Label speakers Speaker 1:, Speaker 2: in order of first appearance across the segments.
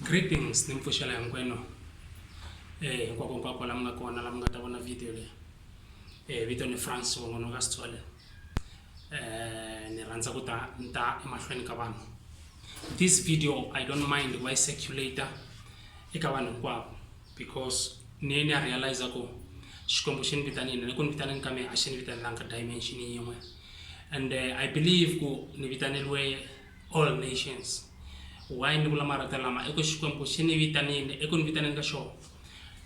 Speaker 1: greetings ni mpfuxela hinkwenu eh hinkwako hinkwako la mi nga kona la mi nga ta vona video leyi eh vito ni france wongono ka sithole eh ni rhandza ku ta ni ta emahlweni ka vanhu this video i don't mind ku va yi circulator eka vanhu hinkwavo because ni ye ni ya realize ku xikwembu xi ni vitanile ni ku ni vitaneni ka mina a xi ni vitanelanga dimension yin'we and eh, i believe ku ni vitaneliwe all nations why ni vula marito lama i ku xikwembu xi ni vitanile eku ni vitaneni ka xona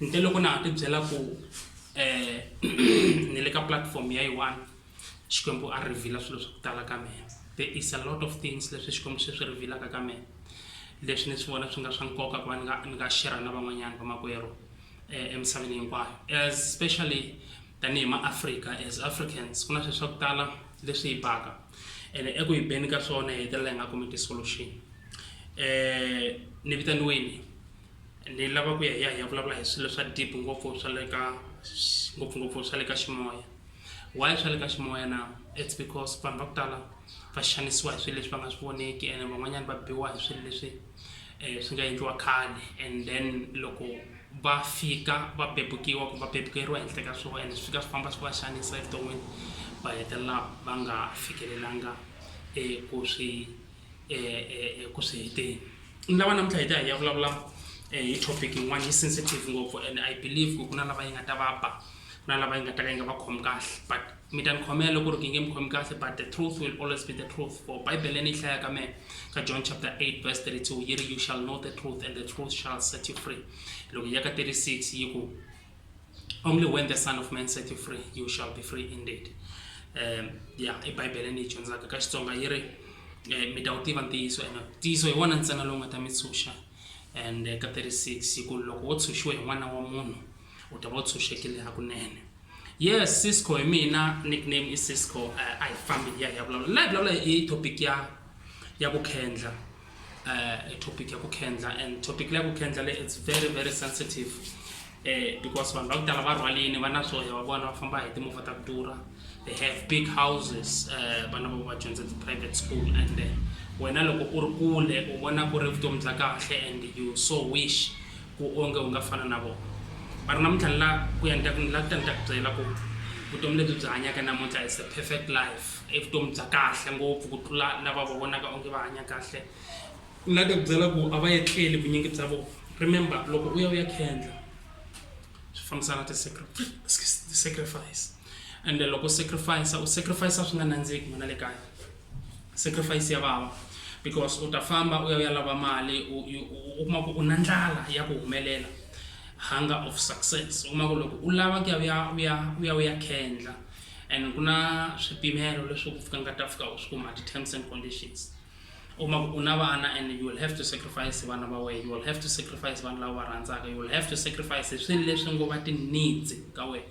Speaker 1: nte loko na ha ti byela ku um ni le ka platform ya yi-one xikwembu a rivhila swilo swa ku tala ka mina there is a lot of things leswi xikwembu swi swi rivhilaka ka mina leswi ni swi vona swi nga swa nkoka ku va ni nga ni nga shera na van'wanyana vamakwerhu um emisaveni hinkwayo especially tanihi maafrika as africans ku na swilo swa ku tala leswi hi baka ene eku hi beni ka swona hi hetelela hi nga kumi ti-solution um ni vitaniweni ni lava ku ya hi ya hi ya vulavula hi swilo swa deep ngopfu swa le ka ngopfungopfu swa le ka ximoya why swa le ka ximoya na it's because vanhu va ku tala va xanisiwa hi swilo leswi va nga swi voneki ene van'wanyana va biwa hi swilo leswi um swi nga endliwa khale and then loko va fika va pepukiwa ku va pepukeriwa henhla ka swona and swi fika swi famba swi va xanisa evuton'wini va hetelela va nga fikelelanga eku swi eku swi heteni ni lava namuntlha hi ta hi ya vulavula hi topic yin'wana yi sensitive ngopfu and I believe ku ku na lava yi nga ta va ba ku na lava yi nga ta ka yi nga va khomi kahle but. mi ta ni khomela loko ri ki nge mi khomi kahle but the truth will always be the truth for bible leyi ni yi hlayaka me ka john chapter 8 verse 32 yi ri you shall know the truth and the truth shall set you free loko ya ka 36 yi ku only when the son of man set you free you shall be free indeed um ya i bible ni yi dyondzaka ka xitsonga yi ri eh, mi ta wu tiva ntiyiso and ntiyiso hi wona ntsena lowu nga ta mi tshunxa and eh, ka 36 yi ku loko wo tshunxiwe hi n'wana wa munhu u ta va u tshunxekile hakunene yes cisco hi mina nickname i cisco uh, a hi fambi hi ya hi ya vulavula la hi vulavula hi topic ya ya ku khendla uh, topic ya ku khendla and topic leya ku khendla le it's very very sensitive uh, because vanhu va ku tala va rhwalini va na swoya va vona va famba hi timovha ta ku durha they have big houses uh, vana va va dyondza ti-private school and uh, wena loko u ri kule u vona ku ri vutomi bya kahle and you so wish Ku onge u nga fana na vona. Va ri, Namuntlha ni la ku ya ni ta ku ni la ku ta ni ta ku byela ku vutomi lebyi byi hanyaka namuntlha is a perfect life, i vutomi bya kahle ngopfu ku tlula lava va vonaka onge va hanya kahle. Ni la ku ta ku byela ku a va etleli vunyingi bya vona. Remember, loko u ya u ya khendla swi fambisana ti-sacrifice ende loko u sacrifice-a u sacrifice-a swi nga nandziki n'wana le kaya. sacrifice ya vava because u ta famba u ya u ya lava mali u u- u kuma ku u na ndlala ya ku humelela hunger of success u kuma ku loko u lava ku ya u ya u ya u ya u ya khendla and ku na swipimelo leswi ku fika nga ta fika u swi kuma ti-terms and conditions u kuma ku u na vana and you will have to sacrifice vana va wena you will have to sacrifice vanhu lava va rhandzaka you will have to sacrifice hi swilo leswi ngo va ti-needs ka wena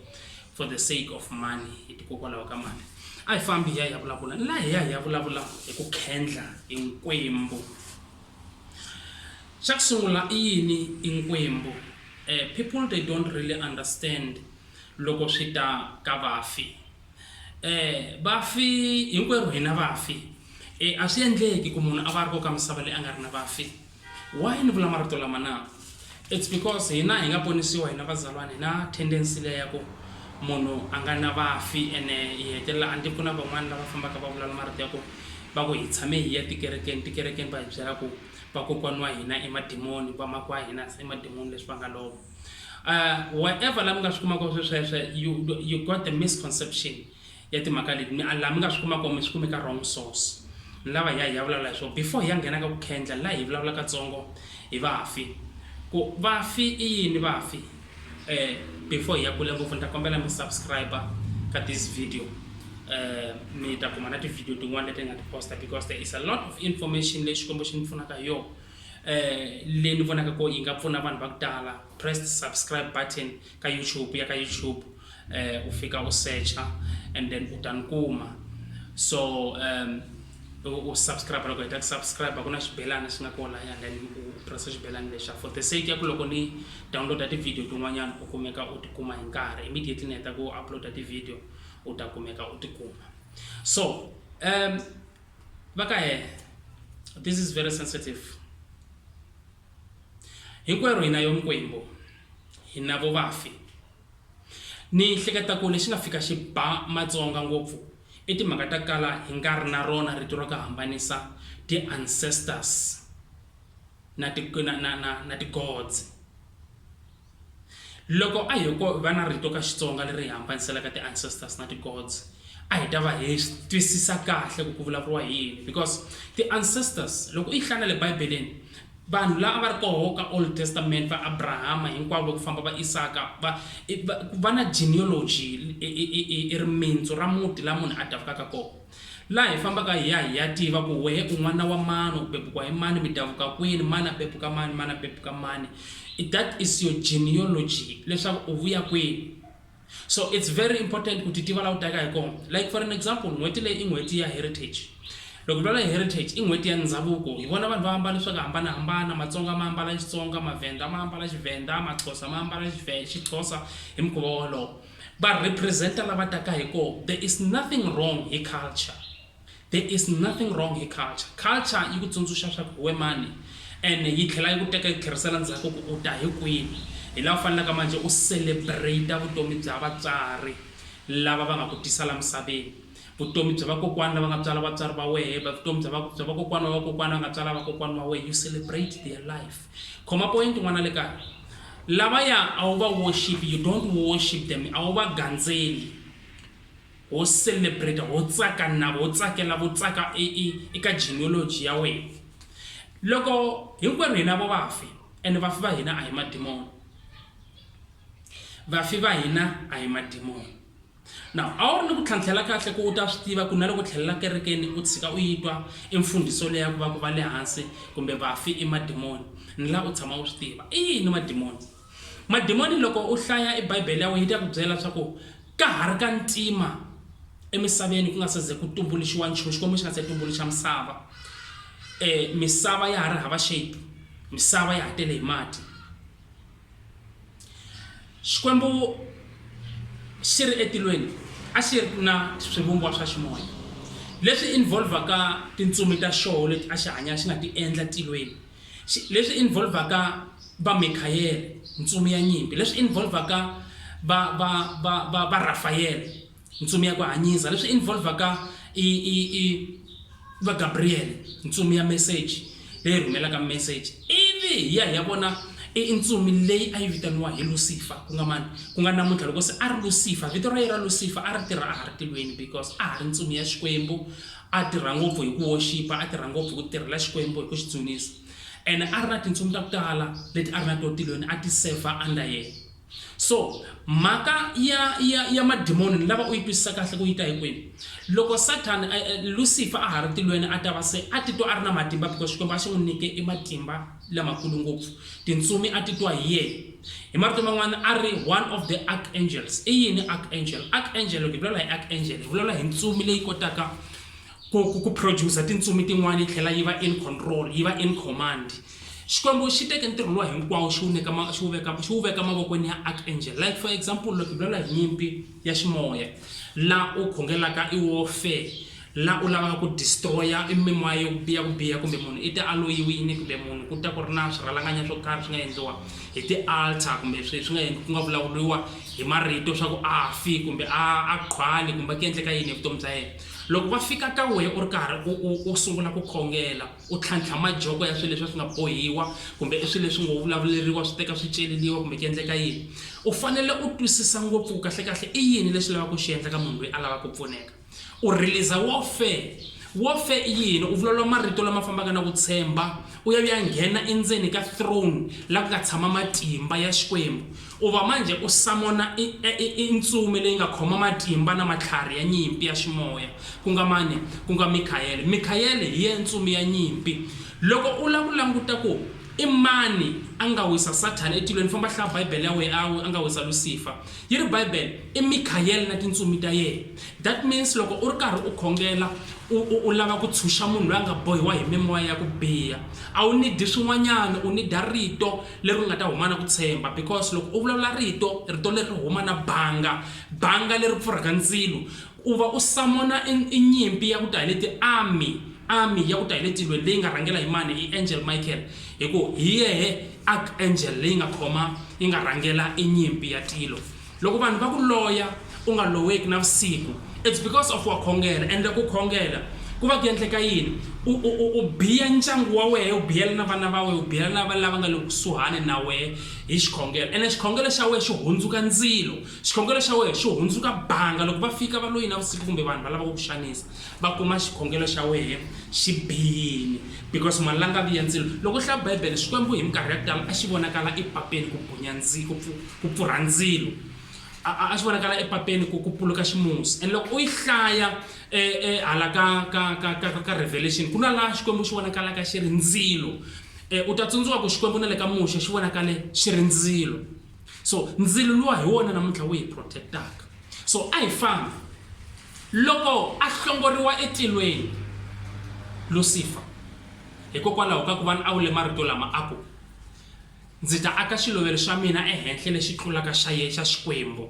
Speaker 1: for the sake of money hitikokwalaho ka mali a hi fambi hi ya hi ya vulavula ni la hi ya hi ya vulavula hi ku khendla hi nkwembu xa ku sungula i yini i nkwembu um eh, people they don't really understand loko swi ta ka vafi um vafi hinkwerhu hina vafi um a swi endleki ku munhu a va ri ko ka misava leyi a nga ri na vafi Why ni vula marito lama na? It's because hina hi nga ponisiwa hina vazalwana hi na tendency leyi ya ku munhu a nga na vafi ene hi hetelela a ni ku na van'wana lava fambaka va vulavula marito ya ku va ku hi tshame hi ya tikerekeni tikerekeni va hi byela ku vakokwani wa hina i madimoni vamako wa hina se i madimoni leswi va nga lova um whatever la mi nga swi kumaka swesweswe you, you got the misconception ya timhaka leti mi a laha mi nga swi kuma kona mi swi kume ka wrong source ni lava hi ya hi ya vulavula hi swona before hi ya nghena ka ku khendla la hi vulavula katsongo hi vafi ku vafi i yini vafi eh before hi ya kule ngopfu ni ta kombela mi subscribe ka this video eh mi ta kuma na ti-video tin'wana leti hi nga ti posta because there is a lot of information leyi xikwembu xi ni pfunaka hi yona eh leyi ni vonaka ko yi nga pfuna vanhu va ku tala press the subscribe button ka YouTube u ya ka YouTube u fika u secha and then u ta ni kuma so u subscribe loko heta ku subscribe ku na xibelana xi nga kona and then u pressa xibelana lexa for the sake ya ku loko ni downloada ti-video tin'wanyana u kumeka u tikuma hi nkarhi immediately ni heta ku uploada ti-video u ta kumeka u tikuma so um va ka hena this is very sensitive Hinkwerhu hi na yo mikwembu, hi na vo vafi. Ni hleketa ku lexi nga fika xi ba Matsonga ngopfu i timhaka ta kala hi nga ri na rona rito ra ku hambanisa ti-ancestors na ti na na na na ti-gods. Loko a hiko va na rito ka Xitsonga leri hi hambaniselaka ti ancestors na ti gods, a hi ta va hi twisisa kahle ku ku vulavuriwa hi yini because ti ancestors loko u yi hlaya na le Bibeleni vanhu la a va ri koho ka Old Testament va Abrahama hinkwavo va ku famba va Isaka va va na genealogy i rimintsu ra muti la munhu a davukaka kona. Laha hi fambaka hi ya hi ya tiva ku wehe u n'wana wa mani, u bebukwa hi mani, mi davuka kwini, mani a bebuka mani, mani a bebuka mani. That is your genealogy, leswaku u vuya kwini. So it's very important ku ti tiva laha u taka hi kona. Like for an example, n'hweti leyi i n'hweti ya heritage. Loko lwala heritage i n'hweti ya ndhavuko, hi vona vanhu va ambala swa ku hambanahambana, Matsonga ma ambala Xitsonga, Mavhenda ma ambala Xivhenda, Maxhosa ma ambala Xivhe, Xixhosa hi mukhuva wolowo. va representer la va taka hi koho there is nothing wrong hi culture there is nothing wrong hi culture culture yi ku tsundzuxa swa ku hi we mani ene yi tlhela yi ku teka yi ku tlherisela ndzhaku ku u ta hi kwini hi la u fanelaka manje u celebrater vutomi bya vatswari lava va nga ku tisa la misaveni Vutomi bya vakokwani lava nga tswala vatswari va wehe, bya vutomi bya bya vakokwani wa vakokwani va nga tswala vakokwani va wehe, you celebrate their life. Khoma point n'wana le kaya. Lavaya a wu va worship, you don't worship them, a wu va gandzeli. Ho celebrate, ho tsaka na vo, ho tsakela vo tsaka e, e, eka genealogy ya wena. Loko hinkwerhu hina vo vafi, and vafi va hina a hi madimoni. Vafi va hina a hi madimoni. Now, a wu ri ni ku tlhantlhela kahle ku u ta swi tiva ku na loko tlhelela kerekeni u tshika u yi twa i mfundiso leya ku va ku va le hansi kumbe vafi i madimoni ni la u tshama u swi tiva i yini madimoni madimoni loko u hlaya i bibele ya wena yi ta ku byela swa ku ka ha ri ka ntima emisaveni ku nga se ze ku tumbuluxiwa nchumu xikwembu xi nga se tumbuluxa misava um misava ya ha ri hava shape misava ya ha tele hi mati xikwembu xi ri etilweni a xi ri na swivumbiwa swa ximoya leswi involvaka tintsumi ta xoho leti a xi hanya xi nga ti endla tilweni leswi involvaka va mikhayele ntsumi ya nyimpi leswi involvaka va va va va va rafayele Ntsumi ya ku hanyisa. Leswi involvaka i, i, i va Gabriel, ntsumi ya meseji leyi rhumelaka meseji, ivi hi ya hi ya vona i ntsumi leyi a yi vitaniwa hi Lusifa, ku nga mani? Ku nga namuntlha loko se a ri Lusifa, vito ra yena ra Lusifa a ri tirha a ha ri tilweni because a ha ri ntsumi ya Xikwembu, a tirha ngopfu hi ku woxipa, a tirha ngopfu hi ku tirhela Xikwembu hi ku xi dzunisa, ene a ri na tintsumi ta ku tala leti a ri na to tilweni a ti sevha under yena. So, mhaka ya, ya, ya madimoni ni lava u yi twisisa kahle ku yi ta hi kwini. Loko Sathana, eh, eh, Lusifa a ha ri tilweni a ta va se a titwa a ri na matimba because Xikwembu a xi n'wi nyike i matimba lamakulu ngopfu. Tintsumi a titwa hi yehe. Hi marito man'wana a ri one of the archangels. I yini archangel? Archangel, loko hi vulavula hi archangel, hi vulavula hi ntsumi leyi kotaka ku, ku, ku producer tintsumi tin'wana yi tlhela yi va in control, yi va in command. Xikwembu xi teke ntirho luwa hinkwawo xi wu nyika ma, xi wu veka, xi wu veka mavokweni ya archangel. Like for example, loko hi vulavula hi nyimpi ya ximoya, la u khongelaka i warfare, la u lavaka ku destroya i mimoya yo biya ku biya, kumbe munhu i tialoyiwini, kumbe munhu ku ta ku ri na swirhalanganya swo karhi swi nga endliwa hi ti-altar, kumbe swi swi nga endli- ku nga vulavuriwa hi marito swa ku a fi kumbe a a qhwali kumbe ku endleka yini hi vutomi bya yena. Loko va fika ka wehe u ri karhi u u u sungula ku khongela, U tlhantlha majoko ya swilo leswi a swi nga bohiwa kumbe i swilo leswi ngo vulavuleriwa swi teka swi celeriwa kumbe ku endleka yini. U fanele u twisisa ngopfu ku kahle-kahle i yini lexi lavaka ku xi endla ka munhu loyi a lavaka ku pfuneka. U release-a warfare. Warfare i yini? U vulavula marito lama fambaka na ku tshemba, u ya u ya nghena endzeni ka throne laha ku nga tshama matimba ya Xikwembu. Ku va manjhe u samona i, i, i, i ntsumi leyi nga khoma matimba na matlhari ya nyimpi ya ximoya. Ku nga mani? Ku nga Mikhayele. Mikhayele hi ya ntsumi ya nyimpi. Loko u lava ku languta ku i mani a nga wisa Sathana etilweni, famba hlaya Bibele ya wena, a, a nga wisa Lusifa. Yi ri Bibele, i Mikhayele na tintsumi ta yena. That means loko u ri karhi u khongela, u, u, u lava ku tshunxa munhu loyi a nga bohiwa hi mimoya ya ku biha, a wu nidi swin'wanyana, u nida Rito. leri u nga ta huma na ku tshemba because loko u vulavula rito rito leri huma na banga banga leri pfurhaka ndzilo u va u samona inyimpi ya ku ta hi leti army army ya ku ta hi le tilweni leyi nga rhangela hi mani i angel michael hi ku hi yehe archangel leyi nga khoma yi nga rhangela inyimpi ya tilo Loko vanhu va ku loya u nga loweki navusiku it's because of wa khongela ende ku khongela ku va ku endleka yini u, u, u, u biya ndyangu wa wehe u biyela na vana va wehe u biyela na lava nga le kusuhani na wehe hi xikhongelo ene xikhongelo xa wehe xi hundzuka ndzilo xikhongelo xa wehe xi hundzuka banga loko va fika va loyi navusiku kumbe vanhu va lava ku xanisa va kuma xikhongelo xa wehe xi biyini because malangavi ya ndzilo loko u hlaya bibele xikwembu hi minkarhi ya ku tala a xi vonakala epapeni ku bunya ndzilo ku pfurha ndzilo a a swi vonakala epapeni ku ku puluka ximusi and loko u yi hlaya e, e, hala ka ka ka ka ka revelation ku na laha xikwembu xi vonakalaka xi ri ndzilo e, u ta tsundzuka ku xikwembu na le ka muxe xi vonakale xi ri ndzilo so ndzilo luwa hi wona namuntlha wu hi protectaka so a hi fambi loko a hlongoriwa etilweni lusifa hikokwalaho ka ku va ni a wu le marito lama a ku Ndzi ta aka xilovelo xa mina ehenhla lexi tlulaka xa ye xa Xikwembu.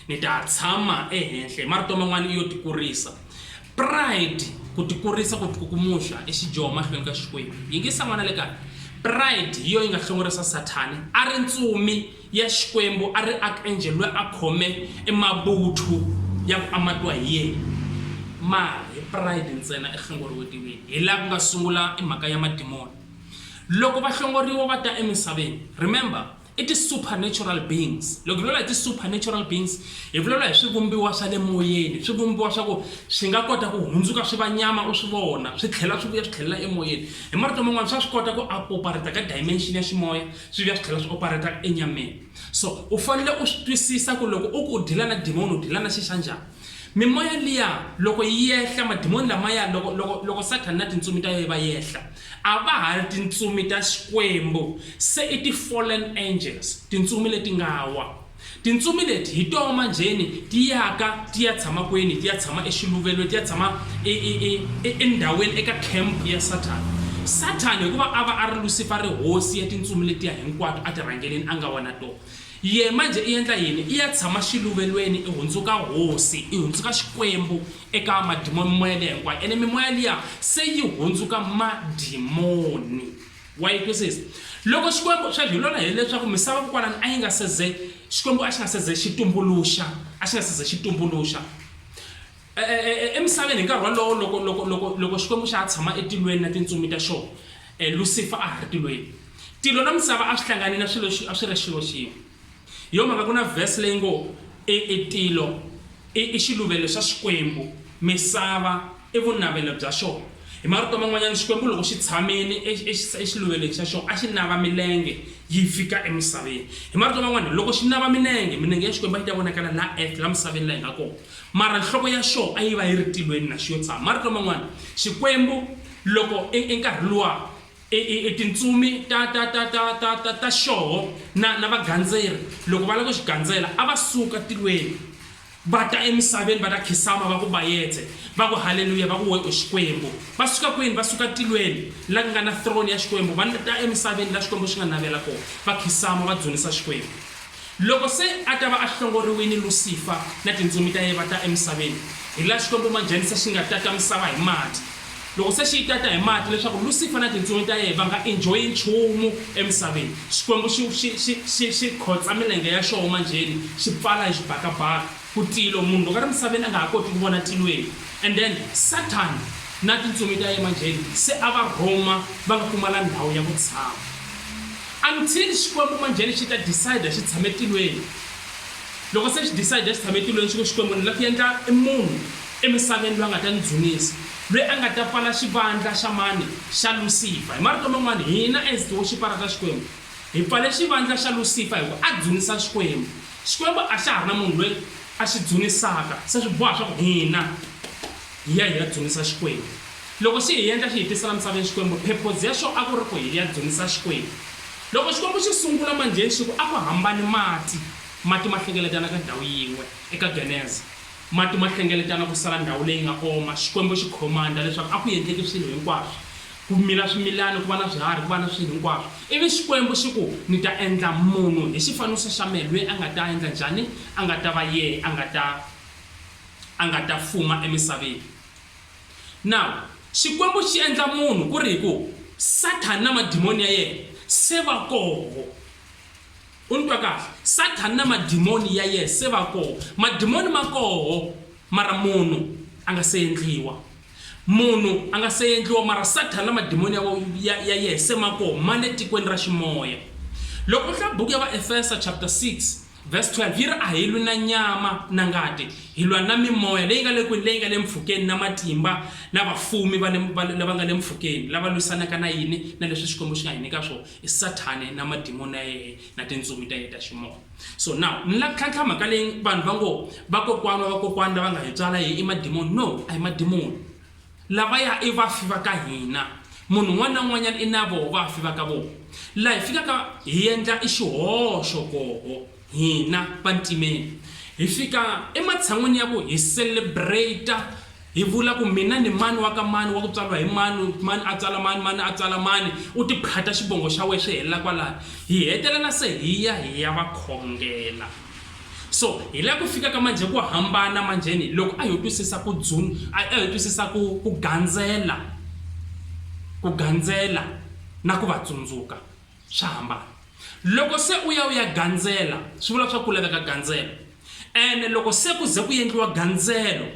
Speaker 1: Ni ta tshama ehenhla. Hi marito man'wana i yo tikurisa. Pride, ku tikurisa, ku tikukumuxa i xidyoho mahlweni ka Xikwembu. Yingisa n'wana le kaya. Pride hi yo yi nga hlongorisa Sathani. A ri ntsumi ya Xikwembu, a ri archangel loyi a khome e mavuthu ya ku amatiwa hi yena. Mara hi pride ntsena i hlongoriwetiwile. Hi laha ku nga sungula e mhaka ya madimoni. Loko va hlongoriwa va ta emisaveni, remember, i ti supernatural beings. Loko hi vulavula hi ti supernatural beings, hi vulavula hi swivumbiwa swa le moyeni, swivumbiwa swa ku swi nga kota ku hundzuka swi va nyama u swi vona, swi tlhela swi vuya swi tlhelela emoyeni. Hi marito man'wana swa swi kota ku a operate ka dimension ya ximoya, swi vuya swi tlhela swi operate enyameni. So u fanele u swi twisisa ku loko u ku u deal-a na demon u deal-a na xi xa njhani. Mimoya liya loko yi yehla, madimoni lamaya, loko, loko, loko Sathana na tintsumi ta yohe va yehla, a va ha ri tintsumi ta Xikwembu, se i ti-fallen angels, tintsumi leti nga wa. Tintsumi leti hi toho manjheni ti yaka ti ya tshama kwini? Ti ya tshama exiluvelweni, ti ya tshama e, e, e, e, endhawini, eka camp ya Sathana. Sathana, hikuva a va a ri Lusifa, a ri hosi ya tintsumi letiya hinkwato a ti rhangeleni, a nga wa na toho. Yehe manje i endla yini? I ya tshama xiluvelweni, i hundzuka hosi, i hundzuka Xikwembu eka madimoni, mimoya liya hinkwayo. Ene mimoya liya se yi hundzuka madimoni. Wa yi twisisa? Loko Xikwembu, sweswi hi lona hi leswaku misava kokwalani a yi nga se ze, Xikwembu a xi nga se ze xi tumbuluxa, a xi nga se ze xi tumbuluxa. Emisaveni hi nkarhi wolowo, loko, loko, loko, loko Xikwembu xa ha tshama etilweni na tintsumi ta xona, Lusifa a ha ri tilweni. Tilo na misava a swi hlangane na swilo, a swi ri xilo xin'we. Hi yona mhaka ku na verse leyi ngo, E, e tilo i, i xiluvelo xa Xikwembu, misava i vunavelo bya xona. Hi marito man'wanyana, Xikwembu loko xi tshamile e, e, exiluvelweni xa xona, a xi nava milenge yi fika emisaveni. Hi marito man'wana, loko xi nava milenge, milenge ya Xikwembu a yi ta vonakala laha earth, laha misaveni laha hi nga kona. Mara nhloko ya xo a yi va yi ri tilweni na xi yo tshama. Marito man'wana, Xikwembu loko e, enkarhi luwa, e, e, e tintsumi ta, ta, ta, ta, ta, ta, ta xoho na, na vagandzeri loko va lava ku xi gandzela, a va suka tilweni va ta emisaveni va ta khisama va ku bayetse, va ku haleluya, va ku we u Xikwembu. Va suka kwini? Va suka tilweni la ku nga na throne ya Xikwembu, va ta emisaveni la Xikwembu xi nga navela kona, va khisama va dzunisa Xikwembu. Loko se a ta va a hlongoriwile, Lusifa na tintsumi ta yena va ta emisaveni, hi laha Xikwembu Majanisa xi nga tata misava hi mati. Loko se xi yi tata hi mati leswaku Lusifa na tintsumi ta yena va nga enjoy-i nchumu emisaveni, Xikwembu xi xi xi xi xi khotsa milenge ya xoho manjheni, xi pfala hi xibakabaka. Kutilo munhu loko ari misaveni anga ha koti kuvona tilweni and then Satan na tintsumi ta yema njheni se a va Rhoma vanga pfumala ndhawu ya ku tshama until Xikwembu manjheni xita decider xi tshame tilweni loko se xi decider xi tshame tilweni swi ku Xikwembu ni la ku endla i munhu e misaveni lwa nga ta ni dzunisa lwe anga ta pfala xivandla xa mani xa Lucifer hi marito man'wani hina as ti woxiparata Xikwembu Hi pfale xivandla xa Lusifa hi ku a dzunisa Xikwembu. Xikwembu a xa ha ri na munhu loyi a xi dzunisaka, se swi boha leswaku hina hi ya hi ya dzunisa Xikwembu. Loko xi hi endla xi hi tisa laha misaveni Xikwembu, purpose ya xona a ku ri ku hi ya dzunisa Xikwembu. Loko Xikwembu xi sungula manjheni xi ku a ku hambani mati, mati ma hlengeletana ka ndhawu yin'we eka Geneza. Mati ma hlengeletana ku sala ndhawu leyi nga oma, Xikwembu xi command-a leswaku a ku endleki swilo hinkwaswo. Ku mila swimilani, ku va na swiharhi, ku va na swilo hinkwaswo. Ivi Xikwembu xi ku, Ni ta endla munhu hi xifaniso xa mehe, loyi a nga ta endla njhani? A nga ta va yehe, a nga ta, a nga ta fuma emisaveni. Now, Xikwembu xi endla munhu ku ri hi ku Sathana na madimoni ya yehe se va koho. U ni twa kahle? Sathana na madimoni ya yehe se va koho. Madimoni ma koho, mara munhu a nga se endliwa. Munhu a nga se endliwa, mara Sathana na madimoni ya wa, ya, ya yehe se ma koho, ma le tikweni ra ximoya. Loko u hlaya buku ya Vaefesa chapter 6 verse 12 yi ri, A hi lwi na nyama na ngati, hi lwa na mimoya leyi nga le kwini, leyi nga le mpfhukeni, na matimba, na vafumi va le, va, lava nga le mpfhukeni, lava lwisanaka na yini? Na leswi Xikwembu xi nga hi nyika swona, i Sathana na madimoni ya yehe na tintsumi ta yehe ta ximoya. so now ni la tlhantlha mhaka leyi vanhu va ngo vakokwana wa vakokwana lava nga hi tswala hi i madimoni no a hi madimoni lava ya i vafi va ka hina munhu un'wana na un'wanyana i na voho vafi va ka vona laha hi fikaka hi endla i xihoxo koho hina vantimeni hi fika ematshan'wini ya ku hi celebrata Hi vula ku mina ni mani wa ka mani wa ku tswariwa hi mani, mani a tswala mani, mani a tswala mani, u tiphata xivongo xa wehe swi helela kwalano. Hi hetelela se hi ya hi ya va khongela. So hi la ku fika ka manjhe ku hambana manjheni loko a ho twisisa ku dzun, a ho twisisa ku ku gandzela, ku gandzela na ku va tsundzuka. Swa hambana. Loko se u ya u ya gandzela, swi vula swa ku laveka gandzelo. Ene loko se ku ze ku endliwa gandzelo,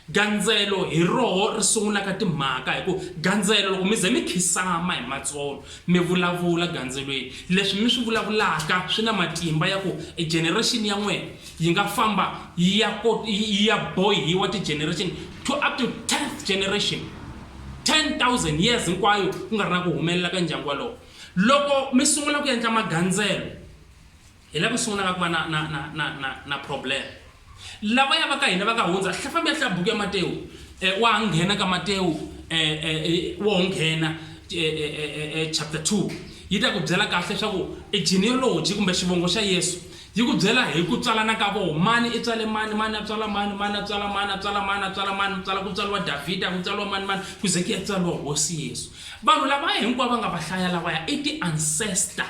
Speaker 1: gandzelo hi roho ri sungulaka timhaka hi ku gandzelo loko mi ze mi khisama hi matsolo, mi vulavula gandzelweni, leswi mi swi vulavulaka swi na matimba ya ku e generation ya n'wina yi nga famba yi ya yi ya bohiwa ti-generation to up to tenth generation, 10,000 years hinkwayo ku nga ri na ku humelela ka ndyangu walowo. Loko mi sungula ku endla magandzelo, hi la ku sungulaka ku va na, na, na, na, na, na problem. Lavaya va ka hina va nga hundza, hla, fambi ya hlaya buku ya Matewu, e, wa ha nghena ka Matewu, e, e, e, wo ho nghena, e, e, e, e, e, chapter 2, yi ta ku byela kahle swa ku e genealogy kumbe xivongo xa Yesu, yi ku byela hi ku tswalana ka voho, mani i tswale mani, mani a tswala mani, mani a tswala mani, a tswala mani, a tswala mani, ku tswala, ku tswaliwa Davhida, ku tswaliwa mani, mani, ku ze ku ya tswaliwa Hosi Yesu. Vanhu lavaya hinkwavo va nga va hlaya lavaya i ti-ancestor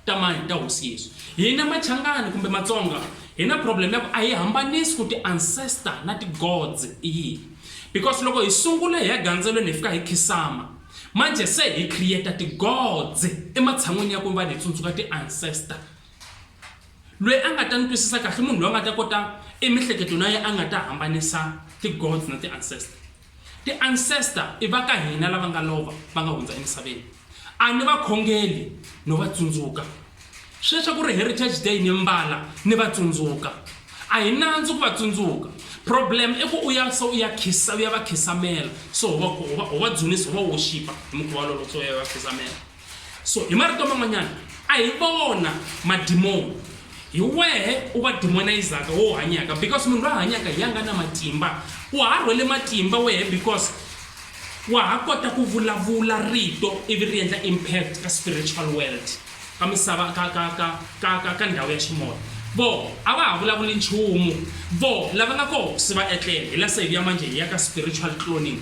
Speaker 1: ta mani ta hosi Yesu. Hina Machangani kumbe Matsonga hi na problem ya ku a hi hambanisi ku ti-ancestor na ti-gods i yini because loko hi sungula hi ya gandzelweni hi fika hi khisama manje se hi create ti-gods ematshan'wini ya ku va hi tsundzuka ti-ancestor. Loyi a nga ta ni twisisa kahle i munhu loyi a nga ta kota emihleketweni ya yena a nga ta hambanisa ti-gods na ti-ancestor. Ti ancestor i va ka hina lava nga lova va nga hundza emisaveni. A ni va khongeli no va tsundzuka. Sweswi ku ri Heritage Day ni mbala ni va tsundzuka. A hi nandzu ku va tsundzuka. Problem i ku u ya so u ya khisa u ya va khisamela so ho va ho va ho va dzunisa ho va woxipa hi mukhuva wolowo so u ya va khisamela. so hi marito man'wanyana a hi vona madimoni hi wehe u va demonizaka wo hanyaka because munhu loyi a hanyaka hi ya nga na matimba u ha rhwele matimba wehe because wa ha kota ku vulavula rito ivi ri endla impact ka spiritual world ka misava ka ka ka ka ka ka ndhawu ya ximoya vo a va ha vulavuli nchumu vo lava nga koho se va etlele hi la sayivi ya manjhe hi ya ka spiritual cloning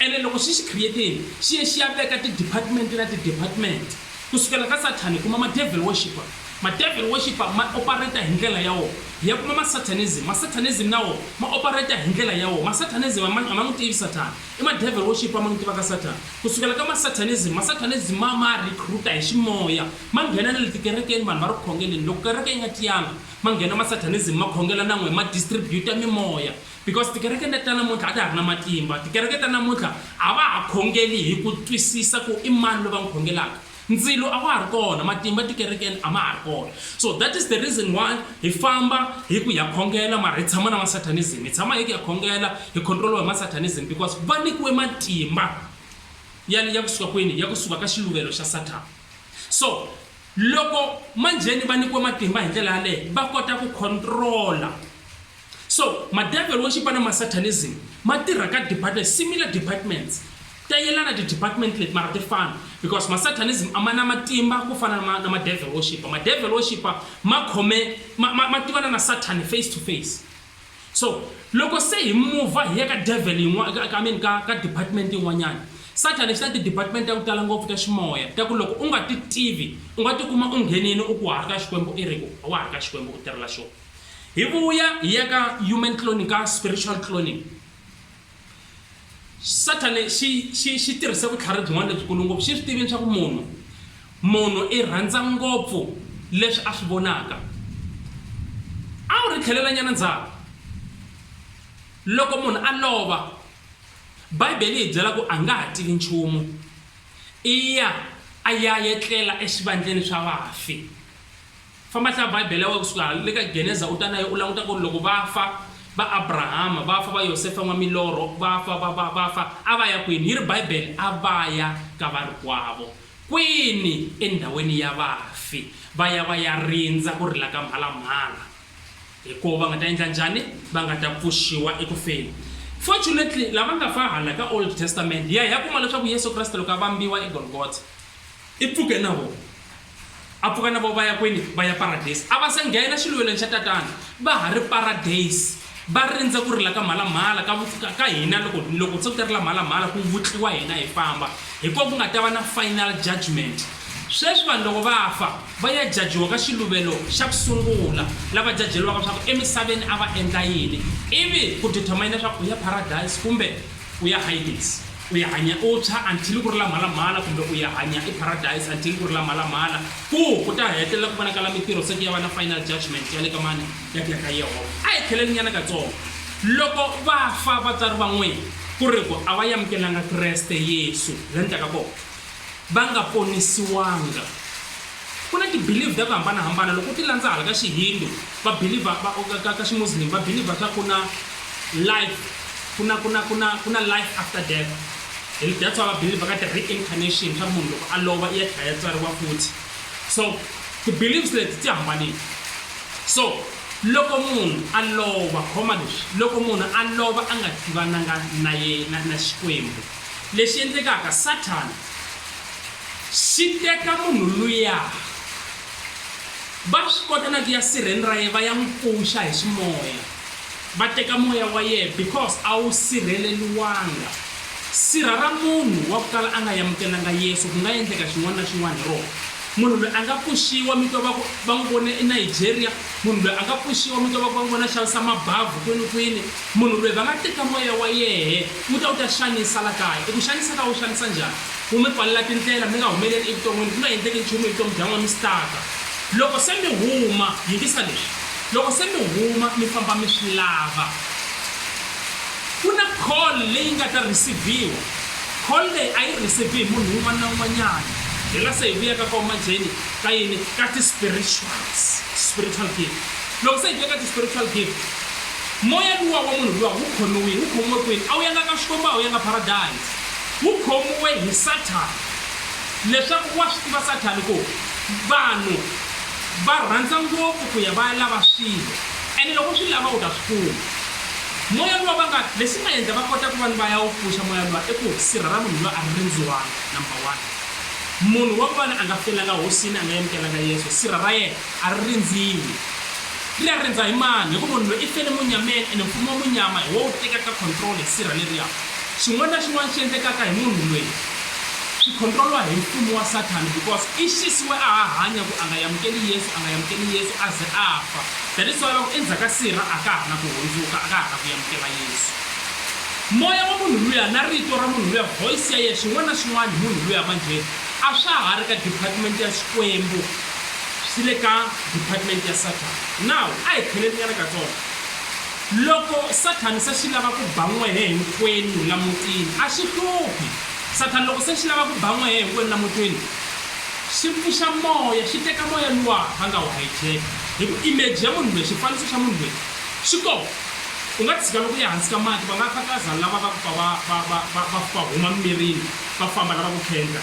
Speaker 1: Ene loko xi xi creatile, xi ye xi ya veka tidepartment na tidepartment. Ku sukela ka Sathani, kuma ma-devil worshipper. Ma-devil worshipper ma opareta hi ndlela ya wona. Hi ya kuma ma-Satanism. Ma-Satanism na wona ma opareta hi ndlela ya wona. Ma-Satanism a ma a ma n'wi tivi Sathana. I ma-devil worshipper ma n'wi tivaka Sathana. Ku sukela ka ma-Satanism, ma-Satanism ma ma recruit-a hi ximoya, ma nghena na le tikerekeni, vanhu va ri ku khongeleni. Loko kereke yi nga tiyanga, ma nghena ma-Satanism ma khongela na n'we, ma distribute-a mimoya. Because tikereke leta namuntlha a ta ha ri na matimba. Tikereke ta namuntlha a va ha khongeli hi ku twisisa ku i mani loyi va n'wi khongelaka. Ndzilo a wa ha ri kona, matimba tikerekeni a ma ha ri kona. So that is the reason why hi famba hi ku ha khongela mara hi tshama na ma-Satanism. Hi tshama hi ku ha khongela hi control-iwa hi ma-Satanism because va nyikiwe matimba ya ya ku suka kwini? Ya ku suka ka xiluvelo xa Sathana. So loko manjheni va nyikiwe matimba hi ndlela yaleyo va kota ku control-a. So, madevelo wo xipa na ma Satanism ma tirha ka departments, similar departments. Ta yelana ti department leti mara ti fana because ma Satanism a ma na matimba ku fana na ma, na madevelo wo xipa. Madevelo wo xipa ma khome, ma, ma, ma tivana na Sathani face to face. So, loko se hi muva hi ya ka develo yin'wana, ka, ka, I mean, ka, ka department yin'wanyana, Sathani swi na ti department ta ku tala ngopfu ta ximoya ta ku loko u nga ti tivi u nga ti kuma u nghenini u ku wa ha ri ka Xikwembu i ri ku a wa ha ri ka Xikwembu u tirhela xona. hi vuya hi ya ka human cloning ka spiritual cloning sathane xi xi xi tirhise vutlhari byin'wana lebyikulu ngopfu xi swi tivini swa ku munhu munhu i rhandza ngopfu leswi a swi vonaka a wu ri tlhelelanyana ndzhaku loko munhu a lova bibele yi byela ku a nga ha tivi nchumu i ya a ya yetlela exivandleni swa vafi Famba hlaya Bibele ya wena ku suka le ka Geneza u ta na yo u languta ku ri loko va fa va Abrahama, va fa va Yosefa n'wa milorho, va fa va va va fa a va ya kwini? Yi ri Bibele a va ya ka varikwavo. Kwini? Endhawini ya vafi. Va ya va ya rindza ku rila ka mhalamhala hi koho va nga ta endla njhani? Va nga ta pfuxiwa eku feni. Fortunately lava nga fa hala ka Old Testament hi ya hi ya kuma leswaku Yesu Kreste loko a vambiwa eGolgotha i pfuke na vona. A pfuka na vo va ya kwini? Va ya paradeyisi. A va se nghena xiluvelweni xa Tatana, va ha ri paradeyisi, va rindze ku rila ka mhalamhala ka, ka, ka hina loko, loko se ku ta rila mhalamhala ku vutliwa hina hi famba. Hi kona ku nga ta va na final judgment. Sweswi vanhu loko va fa, va ya jajiwa ka xiluvelo xa ku sungula, la va jajeriwaka swa ku emisaveni a va endla yini, ivi ku determine swa ku u ya paradeyisi kumbe U ya Hades, u ya hanya u tshwa until ku ri la mhalamhala, kumbe u ya hanya eParadise until ku ri la mhalamhala, ku ku ta hetelela ku vonakala mitirho se ku ya va na final judgement ya le ka mani? Ya ku ya ka Yehovha. A hi tlhelelinyana katsongo. Loko va fa vatswari va n'wina, ku ri ku a va yamukelanga Kreste Yesu, la ni taka kona. va nga ponisiwanga. Ku na ti-belief ta ku hambana-hambana, loko u ti landza hala ka Xihindu va believe-a va ka ka ka Ximuslim va believe-a ka ku na life ku na ku na ku na ku na life after death, and that's why va believe-a ka ti-reincarnation swa ku munhu loko a lova i ya tlhela ya tswariwa futhi. So ti-beliefs leti ti hambanile. So loko munhu a lova khoma leswi, loko munhu a lova a nga tivananga na na na Xikwembu, Lexi endlekaka, Sathana xi teka munhu luya, va swi kota na ku ya sirheni ra yena va ya n'wi pfuxa hi ximoya, va teka moya wa yena because a wu sirheleriwanga. Sirha ra munhu wa ku kala a nga yamukelanga Yesu ku nga endleka xin'wana na xin'wana hi rona. Munhu loyi a nga pfuxiwa, mi twa va ku va n'wi vone eNigeria, munhu loyi a nga pfuxiwa mi twa va ku va n'wi vone a xavisa mabavu kwini-kwini, munhu loyi va nga teka moya wa yena. Futa u ta xanisa la kaya. I ku xanisa ka u xanisa njhani? Ku mi pfalela tindlela, mi nga humeleli evuton'wini, ku nga endleki nchumu hi vutomi bya n'wina, mi stuck-a. Loko se mi huma, yingisa leswi, loko se mi huma mi famba mi swi lava, ku na call leyi nga ta receive-iwa. Call leyi a yi receive-i hi munhu un'wana na un'wanyana. Hi la se hi vuya ka kona manjheni, ka yini? Ka ti-spirituals, spiritual gift. Loko se hi vuya ka ti-spiritual gift, Moya luwa wa munhu luwa wu khomiwile. Wu khomiwe kwini? A wu yanga ka Xikwembu, a wu yanga Paradise. Wu khomiwe hi Sathana. Leswaku wa swi tiva Sathana ku vanhu va rhandza ngopfu ku ya va ya lava swilo, ene loko u swi lava u ta swi kuma. Moya luwa va nga, lexi nga endla va kota ku va ni va ya wu pfuxa moya luwa i ku sirha ra munhu luwa a ri rindziwanga, number one. Munhu wa vona a nga felanga Hosini, a nga yamukelanga Yesu, sirha ra yena A ri rindziwi. Ri ya rindza hi mani? Hi ku munhu loyi i fele munyameni ene mfumo wa munyama hi wo wu tekaka control hi sirha leriya. Xin'wana na xin'wana xi endlekaka hi munhu loyi xi controliwa hi mfumo wa Sathana because i xisiwe a ha hanya ku a nga yamukeli Yesu, a nga yamukeli Yesu a ze a fa. That is why va ku endzhaku ka sirha a ka ha ri na ku hundzuka, a ka ha ri na ku yamukela Yesu. Moya wa munhu luya na rito ra munhu luya, voice ya yena, xin'wana na xin'wana hi munhu luya manjhe a swa ha ri ka department ya Xikwembu. Swi le ka department ya Sathana. Now, a hi tlheleninyana katsongo. Loko Sathana se xi lava ku ba n'wehe hinkwenu la mutini, a xi hluphi. Sathana loko se xi lava ku ba n'wehe hinkwenu la mutini, xi pfuxa moya, xi teka moya luwa va nga wu hijack-a. Hi ku image ya munhu loyi, xifaniso xa munhu loyi, xi kona. U nga tshika loko u ya hansi ka mati, va nga khataza lava va ku pfa va, va, va, va, va pfa va huma mimirini, va famba lava ku khendla.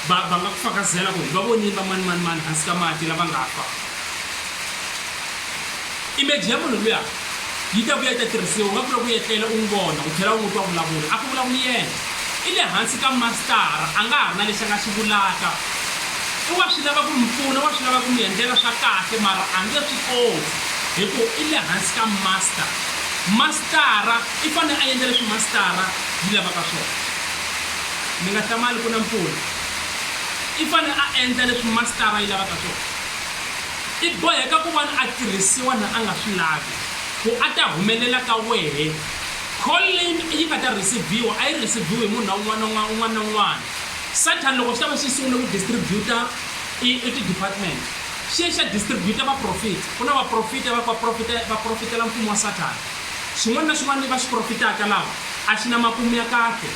Speaker 1: va va nga ku fakazela ku hi va vonile vamanimanimani hansi ka mati lava nga fa imeji ya munhu luya yi ta vuya yi ta tirhisiwa u nga kula ku etlela u n'wi vona u tlhela u n'wi twa vulavula a ku vulavuli yena i le hansi ka mastara a nga ha ri na lexi a nga xi vulaka i wa swi lava ku mi pfuna wa swi lava ku mi endlela swa kahle mara a nge swi koti hi ku i le hansi ka master mastara i fanele a endla leswi mastara yi lavaka swona Mi nga hlamali ku na mpfula. I fanele a endla leswi masitara yi lavaka swona. I boheka ku vona a tirhisiwa na a nga swi lavi, ku a ta humelela ka wehe. Call leyi yi nga ta rhisiviwa a yi rhisiviwi hi munhu un'wana na un'wana un'wana na un'wana. Satan loko xi ta va xi sungule ku distribute-a i i ti-department, xi ye xi ya distribute-a vaprofita. Ku na vaprofita va va profita va profitela mfumo wa Satan. Xin'wana na xin'wana lexi va xi profitaka laha a xi na makumu ya kahle,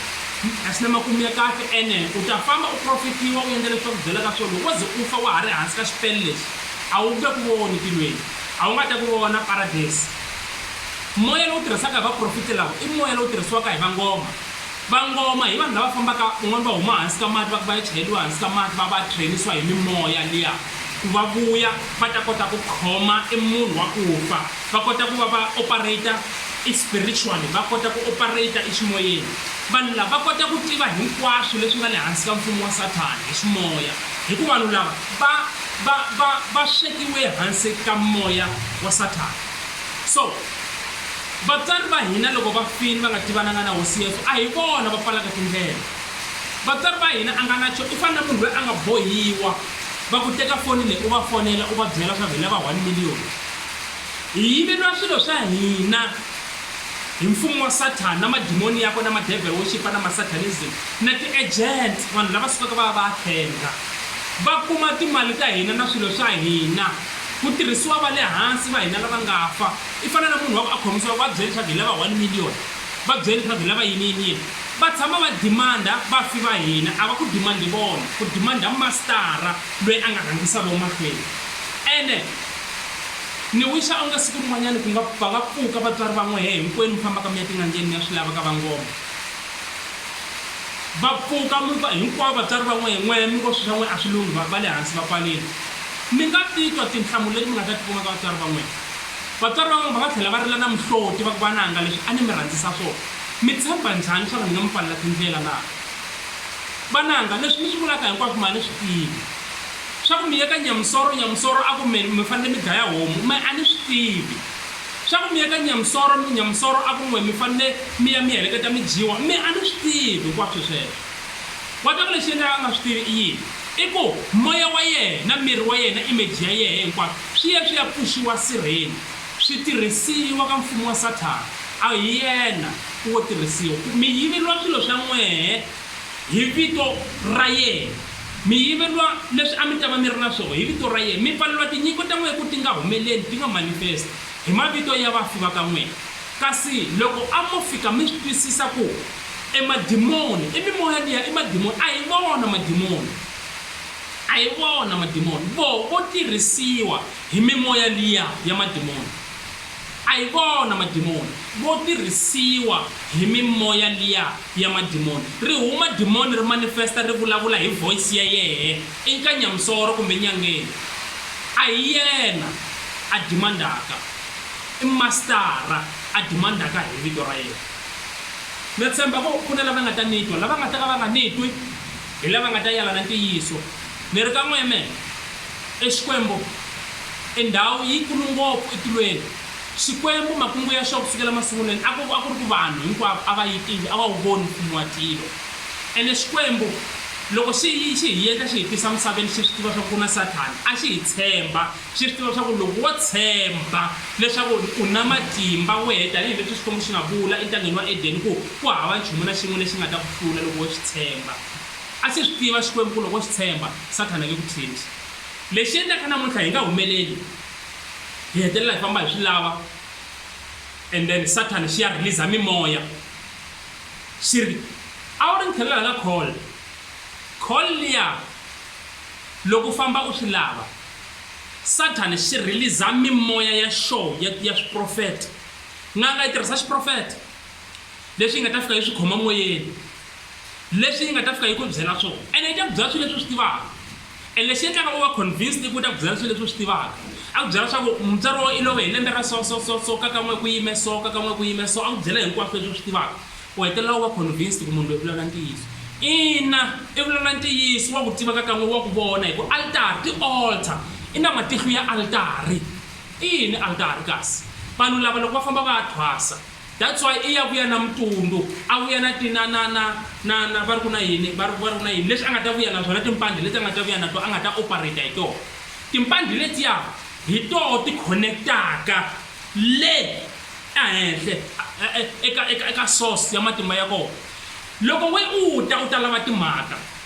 Speaker 1: a xi na makumu ya kahle. Ene u ta famba u profitiwa, u endla leswi va ku byelaka swona, loko wo ze u fa wa ha ri hansi ka xipele lexi, a wu nge ku voni tilweni, a wu nga ta ku vona Paradesi. Moya lowu tirhisaka hi vaprofiti lava i moya lowu tirhisiwaka hi vangoma. Vangoma hi vanhu lava fambaka, van'wana va huma hansi ka mati, va ku va ya chayeriwa hansi ka mati, va va train-isiwa hi mimoya liya ku va vuya va ta kota ku khoma e munhu wa ku fa. va kota ku va va operate i spiritually va kota ku operate i ximoyeni vanhu lava va kota ku tiva hinkwaswo leswi nga le hansi ka mfumo wa sathana hi ximoya hikuva vanhu lava va va va va swekiwe hansi ka moya wa sathana so vatswari va hina loko va fini va nga tivananga na hosi yesu a hi vona va pfalaka tindlela vatswari va hina a nga na xo i fana na munhu loyi a nga bohiwa va ku teka foni leyi u va fonela u va byela swa ku hi lava one million Hi yiveriwa swilo swa hina hi mfumo wa Sathana na madimoni yakwe na madevhele wo xipa na masatanism na ti-agent, vanhu lava sukaka va ya va ya thenga va kuma timali ta hina na swilo swa hina, ku tirhisiwa va le hansi va hina lava nga fa. I fana na munhu wa ku a khomisiwa va byele leswaku hi lava one million, va byele leswaku hi lava yini yini yini, va tshama va demand-a vafi va hina, a va ku demand-i vona, ku demand-a mastara loyi a nga rhangisa vona mahlweni ene. Ni wixa onge siku rin'wanyani ku nga va nga pfuka vatswari va n'wehe hinkwenu mi fambaka mi ya tin'angeni mi ya swi lava ka vangoma. Va pfuka mi va hinkwavo vatswari va n'wehe, n'wehe mi ngo swi swa n'we a swi lunghi va va le hansi va pfarile. Mi nga titwa tinhlamulo leti mi nga ta ti kuma ka vatswari va n'wehe. Vatswari va n'wehe va nga tlhela va rila na mihloti va ku, Vananga, leswi a ni mi rhandzisa swona, mi tshemba njhani leswaku ni nga mi pfalela tindlela na? Vananga, leswi mi swi vulaka hinkwaswo ma ni swi tiva. Swa ku mi ye ka Nyamusoro, Nyamusoro a ku me, mi fanele mi dlaya homu, me a ni swi tivi. Swa ku mi ye ka Nyamusoro, Nyamusoro a ku n'we, mi fanele mi ya mi heleketa mi dyiwa, me a ni swi tivi hinkwaswo sweswo. Wa twa ku lexi endlaka a nga swi tivi i yini? I ku moya wa yena, miri wa yena, image ya yehe hinkwaswo swi ye swi ya pfuxiwa sirheni, swi tirhisiwa ka mfumo wa Sathana. A hi yena wo tirhisiwa. Ku mi yiveriwa swilo swa n'wehe. Hi vito ra yena. Mi yiveriwa leswi a mi ta va mi ri na swona hi vito ra yena. Mi pfaleriwa tinyiko ta n'wina ku ti nga humeleli, ti nga manifesti, hi mavito ya vafi va ka n'wina. Kasi loko a mo fika mi swi twisisa ku e madimoni, i mimoya liya, i madimoni, a hi vona madimoni. A hi vona madimoni. Voho vo tirhisiwa hi mimoya liya ya madimoni. A hi vona madimoni vo tirhisiwa hi mimoya liya ya madimoni. Ri huma dimoni ri manifesta ri vulavula hi voice ya yehe i nka nyamsoro kumbe nyangeni. A hi yena a dimandaka. I mastara a dimandaka hi vito ra yena. Na tshemba ku ku na lava nga ta ni twa. Lava nga ta ka va nga ni twi hi lava nga ta yalana ntiyiso. Ni ri ka n'we amen. E Xikwembu i ndhawu yi kulu ngopfu e tilweni. Xikwembu makungu ya xo ku sukela masungulweni a ku a ku ri ku vanhu hinkwavo a va yi tivi, a va wu voni mfumo wa tilo. Ene Xikwembu loko xi xi hi yendla xi hi tisa misaveni xi swi tiva swa ku ku na Sathana, a xi hi tshemba xi swi tiva swa ku loko wo tshemba leswaku u na matimba wehe tanihi leswi Xikwembu xi nga vula entangeni wa Edeni ku ku hava nchumu na xin'we lexi nga ta ku hlula loko wo xi tshemba. A xi swi tiva Xikwembu-ku loko xi tshemba, Sathana nge ku tshembisi. Lexi endlaka namuntlha hi nga humeleli, hi hetelela hi famba hi swi lava and then Sathana xi ya rhiliza mimoya xi ri, A wu ri ni tlhelela ka Cole. Cole liya loko u famba u swi lava, Sathana xi rhiliza mimoya ya xoho ya ya swiprofeta. N'anga yi tirhisa xiprofeta. leswi yi nga ta fika yi swi khoma moyeni leswi yi nga ta fika yi ku byela swona ene yi ta ku byela swilo leswi u swi tivaka and lexi endlaka u va convinced i ku ta ku byela swilo leswi u swi tivaka a ku byela leswaku mutswari wo i love hi lembe ra so so so so ka kan'we ku yime so ka kan'we ku yime so a ku byela hinkwaswo leswi u swi tivaka u hetelela u va convinced ku munhu loyi vulavula ntiyiso ina i vulavula ntiyiso wa ku tiva ka kan'we wa ku vona hi ku altari ti-altar i na matihlo ya altari i yini altari kasi vanhu lava loko va famba va ya thwasa That's why i ya vuya na mutundu, a vuya na ti na na na na na va ri ku na yini va ri va ri ku na yini leswi a nga ta vuya na swona timpandhi leti a nga ta vuya na to a nga ta operate hi tona timpandhi letiya hi toho ti connectaka le ehenhle eka eka eka source ya matimba ya kona loko we u ta u ta lava timhaka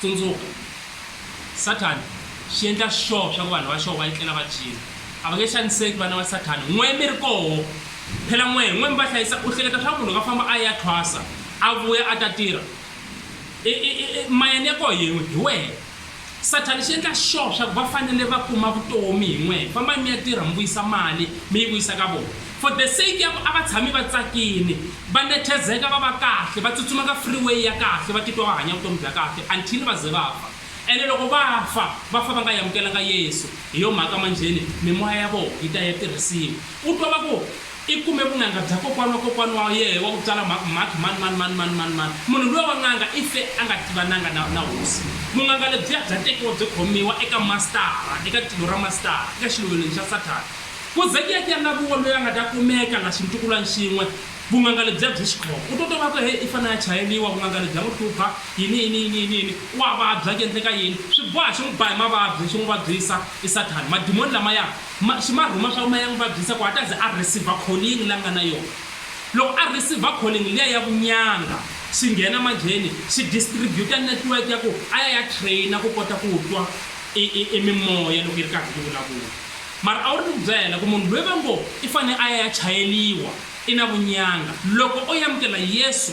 Speaker 1: Tsundzuka, Sathana xi endla sure swa ku vanhu va xoho va etlela va dyile. A va nge xaniseki vana va Sathana n'we mi ri koho. Phela n'we, n'we mi va hlayisa. U hleketa swa ku munhu loko a famba a ya thwasa, a vuya a ta tirha? E-e-e-e, mayani ya koho yin'we hi wena. Sathana xi endla sure swa ku va fanele va kuma vutomi hi n'we. Fambai mi ya tirha mi vuyisa mali, mi yi vuyisa ka vona. For the sake ya ku a va tshami va tsakini, va nethezeka, va va kahle, va tsutsuma ka freeway ya kahle, va titwa va hanya vutomi bya kahle until va ze va fa. Ene loko va fa, va fa va nga yamukelanga Yesu. Hi yo mhaka manjheni mimoya ya vona yi ta ya tirhisiwa. U twa va ku, I kume vun'anga bya kokwana wa kokwana wa yehe wa ku tswala mhakhi mhakhi mani mani mani mani mani mani. Munhu luya wa n'anga i fe a nga tivananga na na hosi. Vun'anga lebyiya bya tekiwa byi khomiwa eka mastara, eka tilo ra mastara, eka xiluvelweni xa Sathana. Ku ze ku ya ku ya na vuwa loyi a nga ta kumeka na xintukulwani xin'we, vun'anga lebyiya byi xi khoma. U to tova ku, He, i fanele a chayeriwa, vun'anga lebyi bya n'wi hlupha, yini, yini, yini, yini, yini. Wa vabya, ku endleka yini? Swi boha xi n'wi ba hi mavabyi, xi n'wi vabyisa. I Sathana. Madimoni lamaya, ma, xi ma rhuma swaku ma ya n'wi vabyisa ku a ta ze a receive-a calling leyi a nga na yona. Loko a receive-a calling liya ya vunyanga, xi nghena manjheni, xi distributer network ya ku a ya ya trainer ku kota ku twa i, i, i mimoya loko yi ri karhi yi vulavula. Mara a wu ri ni ku byela ku munhu loyi va ngo i fanele a ya ya chayeliwa i na vunyanga. Loko o yamukela Yesu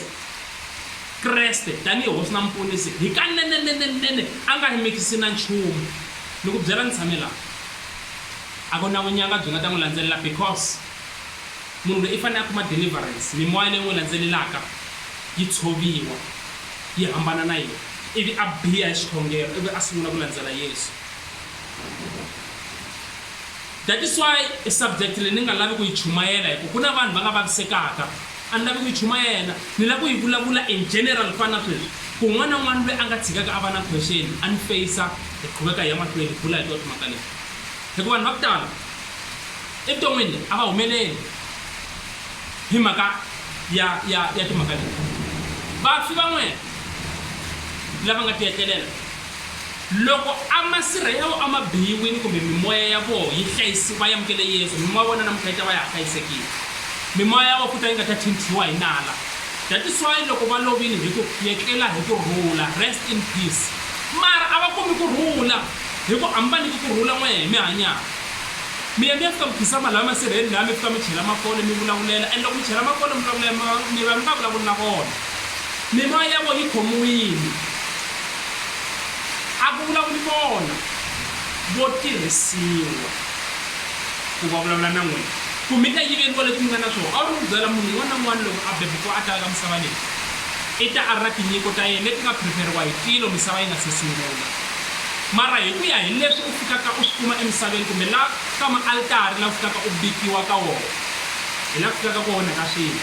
Speaker 1: Kreste tanihi Hosi na Muponisi, hikanenenenene a nga hi mikisi na nchumu. Ni ku byela ni tshame laha. A ku na vunyanga byi nga ta n'wi landzelela because munhu loyi i fanele a kuma deliverance, mimoya leyi n'wi landzelelaka yi tshoviwa, yi hambana na yena, ivi a biha hi xikhongelo ivi a sungula ku landzela Yesu. That is why i subject leyi ni nga lavi ku yi chumayela hi ku ku na vanhu va nga vavisekaka. A ni lavi ku yi chumayela, ni lava ku yi vulavula in general ku fana na sweswi. Ku un'wana na un'wana loyi a nga tshikaka a va na question a ni face-a hi qhuveka hi ya mahlweni hi bula hi tona timhaka leti. Hi ku vanhu va ku tala evuton'wini a va humeleli hi mhaka ya ya ya timhaka leti. Vafi van'wana lava nga ti etlelela. Loko a masirha yawo a ma biyiwini kumbe mimoya ya voho yi hlayisi va yamukele Yesu, mimoya ya vona namuntlha yi ta va ya ha hlayisekile. Mimoya ya voho futa yi nga ta thintiwa hi nala. That is why loko va lovile hi ku, Yetlela hi ku rhula, Rest in peace. Mara a va kumi ku rhula hi ku a mi va nyiki ku rhula n'wehe hi mi hanyaka. Mi ya mi ya fika mi khizama laha masirheni laha mi fika mi chela makole mi vulavulela and loko mi chela makole mi vulavula mi va mi nga vulavuli na vona. Mimoya ya vona yi khomiwile. A ku vulavuli vona, vo tirhisiwa ku va vulavula na n'wina. Ku mi ta yiveriwa leswi mi nga na swona. A wu ri ku byela munhu un'wana na un'wana loko a bebukiwa a ta eka misava leyi, i ta a ri na tinyiko ta yena leti nga phiriferiwa hi tilo misava yi nga se sungula. Mara hi ku ya hi leswi u fikaka u swi kuma emisaveni kumbe la ka maalitari la u fikaka u bikiwa ka wona, hi la ku fikaka ku onhaka swilo.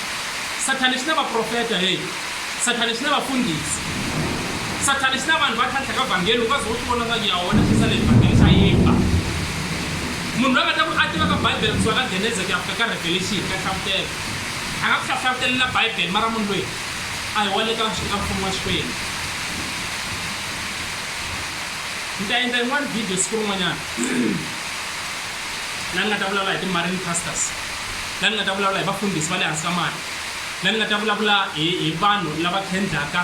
Speaker 1: Sathane xi na vaprofeta, heyi, Sathane xi na vafundhisi. Sathane xi na vanhu va tlhantlha ka Vhangeli, u nga ze wo swi vona swa ku ya wena xi sale hi Vhangeli xa yimba. Munhu loyi a nga ta ku a tivaka Bibele kusuka ka Genese ku ya fika ka Revelation, ka Hlavutelo, a nga ku hlahlavutelela Bibele mara munhu loyi a hi wa le ka ka Mfumo wa Xikwembu. Ni ta endla yin'wana video siku rin'wanyana laha ni nga ta vulavula hi ti-marine pastors. laha ni nga ta vulavula hi vafundhisi va le hansi ka mati, laha ni nga ta vulavula hi hi vanhu lava khendlaka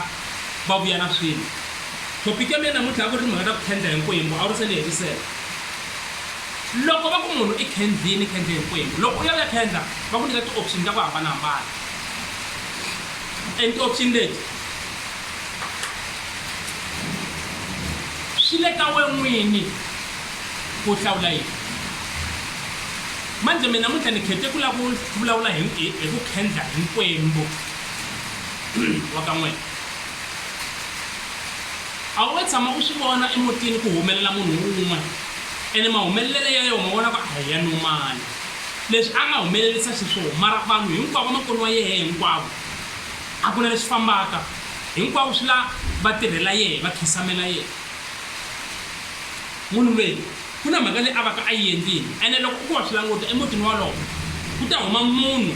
Speaker 1: va vuya na swilo. Thopiki ya mina namuntlha a ku ri timhaka ta ku khendla hi nkwembu, a wu ri se ni hetisela. Loko va ku munhu i khendlini, khendle hi nkwembu. Loko u ya u ya khendla va ku nyika ti-option ta ku hambanahambana and ti-option leti swi le ka we n'wini ku hlawula yini. Manjhe mina namuntlha ni khete ku lava ku vulavula hi hi ku khendla hi Nkwembu wa ka n'wina. A wu nge tshama u swi vona emutini ku humelela munhu un'we ene mahumelele ya yoho ma vona ku a hi ya nomali leswi a nga humelelisa xiswona mara vanhu hinkwavo vamakwenu wa yehe hinkwavo a ku na leswi fambaka hinkwavo swi la va tirhela yehe va khisamela yehe munhu lweyi Ku na mhaka leyi a va ka a yi endlile. Ene loko u ku wa swi languta, emutini wolowo ku ta huma munhu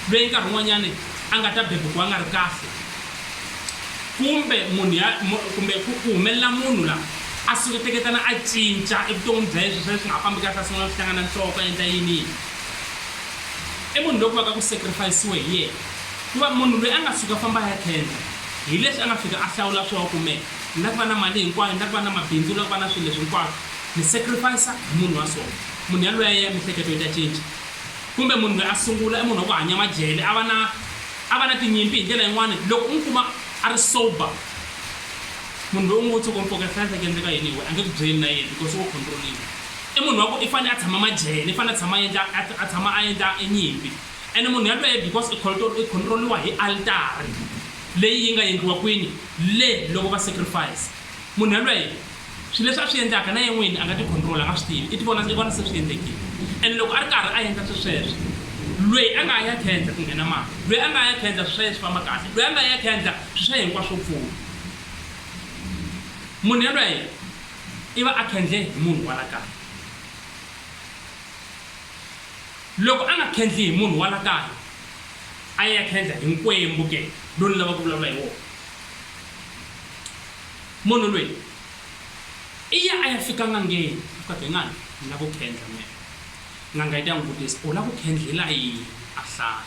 Speaker 1: loyi nkarhi wun'wanyana a nga ta bebukiwa a nga ri kahle, kumbe munhu ya, kumbe ku humelela munhu la a suketeketana a cinca evuton'wini bya yena, swilo swa yena swi nga ha fambi kahle, a sungula ku hlangana nhloko, a endla yini yini. I munhu loyi ku va ka ku sacrifice-iwe hi yena, ku va munhu loyi a nga suka a famba a ya khendla, hileswi a nga fika a hlawula swona, kumbe. Ni la ku va na mali hinkwayo, ni la ku va na mabindzu, ni la ku va na swilo leswi hinkwaswo. Ni sacrifice hi munhu wa so. Munhu yaloye ya mihleketo yi ta cinca. Kumbe munhu loyi a sungula i munhu wa ku hanya majele, a va na a va na tinyimpi hi ndlela yin'wana. Loko u n'wi kuma a ri sober, munhu loyi u ngo tshuka u n'wi poketlhandla ku endleka yini hi wena, a nge ku byeli na yena because wo control-iwa. I munhu wa ku i fane a tshama majele, i fane a tshama a endla a a tshama a endla e nyimpi. Ene munhu yaloye because i i control-iwa hi altari leyi yi nga endliwa kwini? Le loko va sacrifice munhu yalweyo, swilo leswi a swi endlaka na yena n'wini a nga tikhontrola, a nga swi tivi, i tivona i vona se swi endlekile. Ene loko a ri karhi a endla swesweswo, lweyi a nga ha ya khendla ku nghena mati, lweyi a nga ha ya khendla swilo swa yena swi famba kahle, lweyi a nga ha ya khendla swilo swa yena hinkwaswo swo pfula. Munhu yalweyo i va a khendle hi munhu wa la kaya. Loko a nga khendli hi munhu wa la kaya, a ya khendla hi nkwembu ke lowu ni lava ku vulavula hi wona munhu loyi i ya a ya fika n'angeni a ka ngani ni lava ku khendla mina n'anga yi ta n'wi vutisa u lava ku khendlela yini a hlaya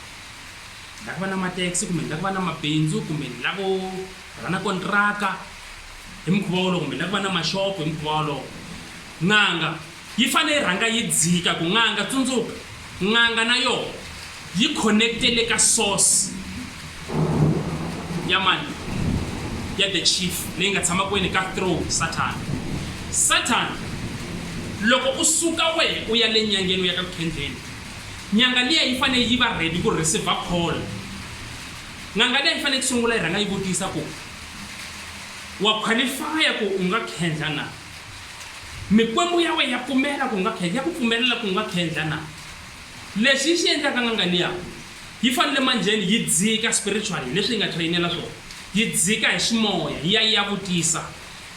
Speaker 1: ni lava ku va na matexi kumbe ni lava ku va na mabindzu kumbe ni lavo va na kontraka hi mukhuva wolowo kumbe ni lava ku va na maxopo hi mukhuva wolowo n'anga Yi fanele yi rhanga yi dzika ku n'anga, tsundzuka, n'anga na yona yi connecte le ka source ya mani? Ya the chief leyi nga tshama kwini? Ka throne, Satan. Satan, loko u suka wehe u ya le nyangeni u ya ka ku khendleni, nyanga liya yi fanele yi va ready ku receive call. N'anga liya yi fanele ku sungula yi rhanga yi vutisa ku, Wa qualify ku u nga khendla na? Mikwembu ya wena ya pfumela ku nga khe, ya ku pfumelela ku nga khendla na? Lexi yi xi endlaka n'anga liya yi fanele manjheni yi dzika spiritually leswi yi nga trainela swona, yi dzika hi ximoya yi ya yi ya vutisa,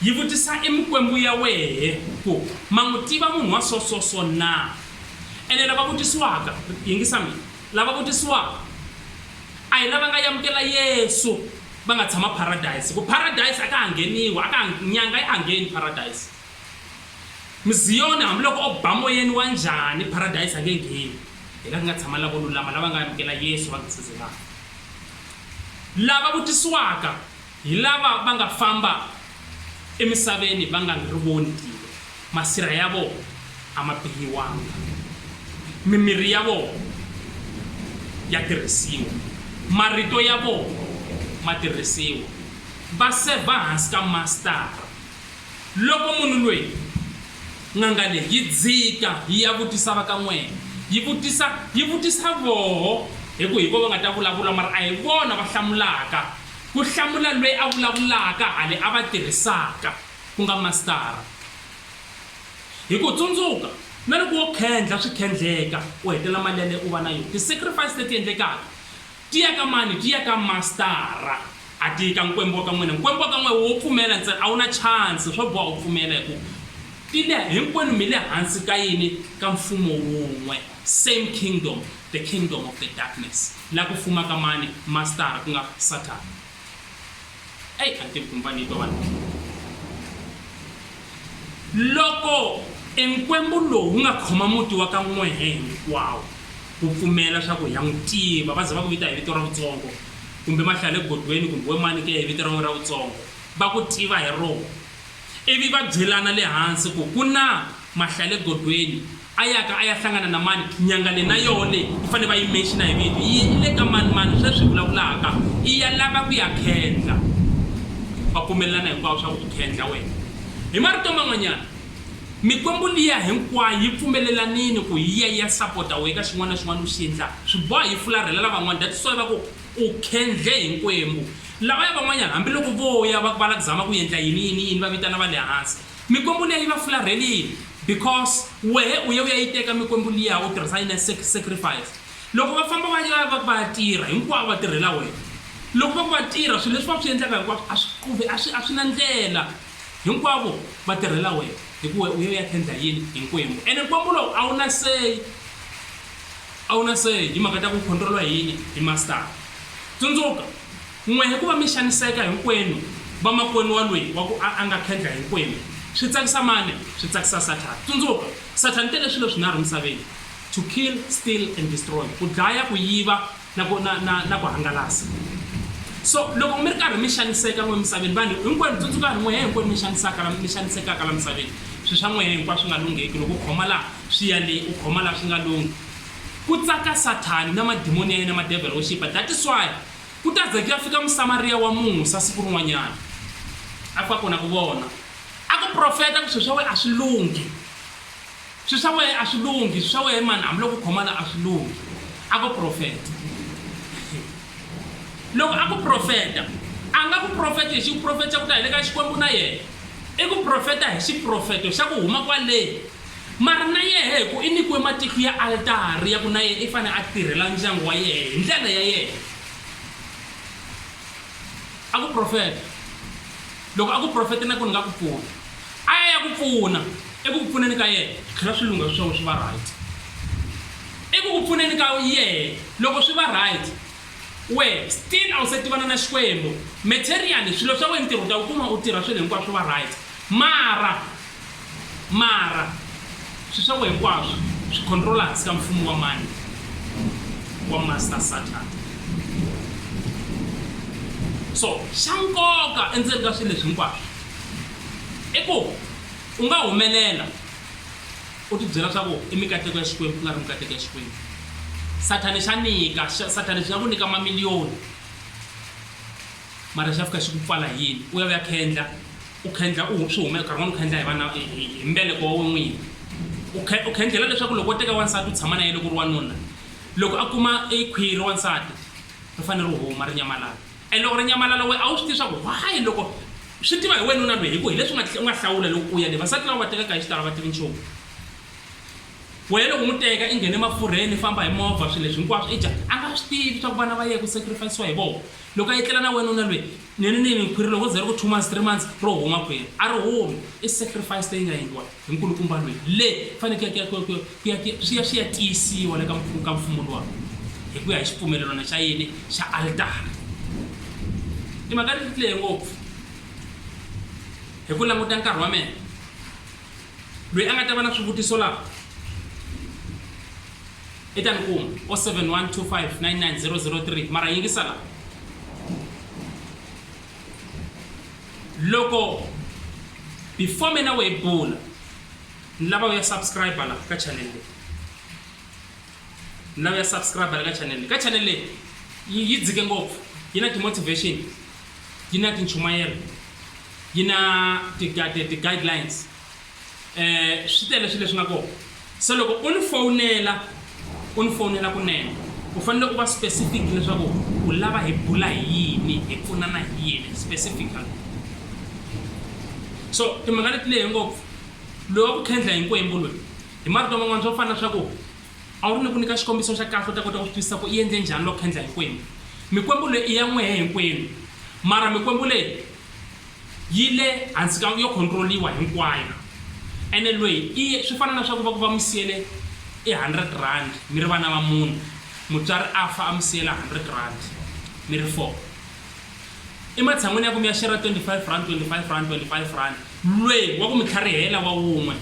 Speaker 1: yi vutisa e mikwembu ya wehe ku ma n'wi tiva munhu wa so so so na? Ene lava vutisiwaka, yingisa mina, lava vutisiwaka a hi lava nga yamukela Yesu Va nga tshama paradise, hikuva paradise a ka ha ngheniwi, a ka ha, nyanga a ya ha ngheni paradise. Muziyoni hambiloko o ba moyeni wa njhani, paradise a nge ngheni. Hi laha ku nga tshama lavo lulama lava nga amukela Yesu va nga se ze va fa. Lava vutisiwaka hi lava va nga famba. Emisaveni va nga ri voni tilo, masirha ya vona a ma bihiwanga, mimirhi ya vona ya tirhisiwa, marito ya vona ma tirhisiwa, va sevha hansi ka masitara. Loko munhu loyi, n'anga leyi, yi dzika yi ya vutisa va ka n'wena, yi vutisa, yi vutisa voho, hi ku hi voho va nga ta vulavula, mara a hi vona va hlamulaka. Ku hlamula loyi a vulavulaka ha le a va tirhisaka, ku nga masitara. Hi ku tsundzuka, na loko wo khendla swi khendleka u hetela mali ya leyi u va na yona. Ti-sacrifice leti endlekaka ti ya ka mani? Ti ya ka masitara, a ti yi ka nkwembu wa ka n'wina. Nkwembu wa ka n'wina wo pfumela ntsena, a wu na chance, swo boha u pfumela hi ku ti le, hinkwenu mi le hansi ka yini? Ka mfumo wun'we, same kingdom, the kingdom of the darkness. la ku fuma ka mani? Mastara, ku nga Sathana. Eyi, a ni tivi kumbe va ni twa vanhu va swona. Loko enkwembu lowu wu nga khoma muti wa ka N'wehe hinkwawo wu pfumela swa ku hi ya n'wi tiva, va ze va ku vita hi vito ra vutsongo, kumbe mahlale godweni kumbe we mani ke hi vito ra n'we ra vutsongo, va ku tiva hi rona, Ivi va byelana le hansi ku, Ku na mahlale godweni, a yaka a ya hlangana na mani? Nyanga leyi na yoho leyi yi fanele va yi menxina hi vito, yi ye yi le ka mani-mani sweswi hi vulavulaka, i ya lava ku ya khendla. Va pfumelelana hinkwavo swa ku, U khendla wena. Hi marito man'wanyana, mikwembu liya hinkwayo yi pfumelelanile ku yi ya yi ya sapota wehe ka xin'wana na xin'wana u xi endlaka. Swi boha yi fularhela lavan'wana. That's why va ku, U khendle hi nkwembu. Lavaya van'wanyana, hambi loko vo ya va va la ku zama ku yendla yini, yini, yini, va vitana va le hansi. Mikwembu liya yi va fularhelile, because wehe u ye u ya yi teka mikwembu liya, u tirhisa yona sec, sacrifice. Loko va famba va ya va ku va ya tirha, hinkwavo va tirhela wena. Loko va ku va tirha, swilo leswi va swi yendlaka hinkwaswo a swi quvi, a swi, a swi na ndlela. Hinkwavo va tirhela wena, hi ku wehe u ye u ya khendla yini? Hi nkwembu. Ene nkwembu lowu a wu na say. A wu na say hi timhaka ta ku khontroliwa hi yini hi masitara. Tsundzuka, n'we hi ku va mi xaniseka hinkwenu vamakwenu wa Lweyi wa ku a a nga khendla hinkwenu. Swi tsakisa mani? Swi tsakisa Sathana. Tsundzuka, Sathana u tele swilo swinharhu emisaveni, to kill, steal and destroy, ku dlaya, ku yiva na ku na na na ku hangalasa. So loko mi ri karhi mi xaniseka n'we emisaveni, vanhu hinkwenu, tsundzukani, n'we he hinkwenu mi xanisaka la mi xanisekaka la misaveni, swi swa n'we he hinkwaswo swi nga lungheki loko u khoma laha Swi ya le, u khoma la swi nga lunghi. Ku tsaka Sathani na madimoni ya yena ma devil worshipper, that is why ku ta za ku ya fika Musamariya wa Musa siku rin'wanyana. A fika kona ku vona, a ku profeta ku swi swa wehe a swi lunghi. Swi swa wehe a swi lunghi, swi swa wehe mani hambi loko u khoma la a swi lunghi. A ku profeta. Loko a ku profeta, a nga ku profeti hi xiprofeto xa ku ta hi le ka Xikwembu na yena. I ku profeta hi xiprofeto xa ku huma kwale. Mari na yehe hiku i nikiwe matihlu ya altari yaku na yehe i fane a tirhela ndyangu wa yehe hi ndlela ya yehe. A ku profeta. Loko a ku profete naku ni nga ku pfuna. A ya ya ku pfuna. Eku ku pfuneni ka yehe, swi tlhela swi lungha swiswavo swi va right. Eku ku pfuneni ka yehe, loko swi va right, wehe still a wu se tivana na Xikwembu. Materially, swilo swa wehe, ntirho u ta wu kuma, u tirha swilo hinkwavo swi va right. Mara. Mara, swi swakwe hinkwaswo swi khontrola hansi ka mfumo wa mani? Wa Master Satan. So, xa nkoka endzeni ka swilo leswi hinkwaswo i ku u nga humelela u ti byela swa ku i mikateko ya Xikwembu ku nga ri mikateko ya Xikwembu. Sathani xa nyika, Sathani xi nga ku nyika mamiliyoni mara xa fika xi ku pfala hi yini? U ya u ya khendla U khendla u swi humesa nkarhi wun'wana u khendla hi vana hi hi mbeleko wa wena n'wini. U khe u khendlela leswaku loko wo teka wansati u tshama na yena loko u ri wanuna, loko a kuma e khwiri ra wansati ri fanele ri huma ri nyamalala. And loko ri nyamalala wena a wu swi tivi leswaku why loko swi tiva hi wena nuna loyi hi ku hi leswi u nga u nga hlawula loko u ya le. Vasati lava u va tekaka hi xitalo a va tivi nchumu. Wena loko u n'wi teka i nghene mafurheni i famba hi movha swilo leswi hinkwaswo i dya a nga swi tivi leswaku vana va yena ku sacrifice-iwa hi vona. Loko a etlela na wena nuna loyi Ni ri ni mi khwiri loko ze ri ku two months, three months ro huma khwiri a ri humi. I sacrifice leyi nga endliwa hi nkulukumba lweyi le fane ku ya ku ya ku ya ku ya swi ya swi ya tiyisiwa le ka ka mfumo luwa hi ku ya hi xipfumelelwana xa yini xa altara. I mhaka ni ri lehe ngopfu hi ku languta nkarhi wa mina lweyi a nga ta va na swivutiso laha. I ta ni kuma 0712599003 mara yingisa la loko before mina we bula ni lava ya subscribe la ka channel leyi ni lava ya subscribe la ka channel leyi ka channel leyi yi dzike ngopfu yi na ti-motivation yi na tinchumayelo yi na ti-guidelines swi tele swilo leswi nga kona se loko u ni fowunela u ni fowunela kunene u fanele u va specific leswaku u lava hi bula hi yini hi pfunana hi yini specifically so timhaka leti lehe ngopfu loyi wa ku khendla hinkwembu loyi hi marito man'wana swo fana swa ku a wu ri ni ku nyika xikombiso xa kahle u ta kota ku swi twisisa ku i endle njhani loko khendla hinkwembu mikwembu leyi i ya n'wehe hinkwenu mara mikwembu leyi Yi le hansi ka yo khontiroliwa hinkwayo. Ene lweyi i ye, swi fana na swa ku va ku va mi siyele i hundred rand mi ri vana va mune, mutswari a fa a mi siyela hundred rand mi ri four. I matshan'wini ya ku mi ya shera twenty five rand, twenty five rand, twenty five rand, lweyi wa ku mi tlharihela wa wun'we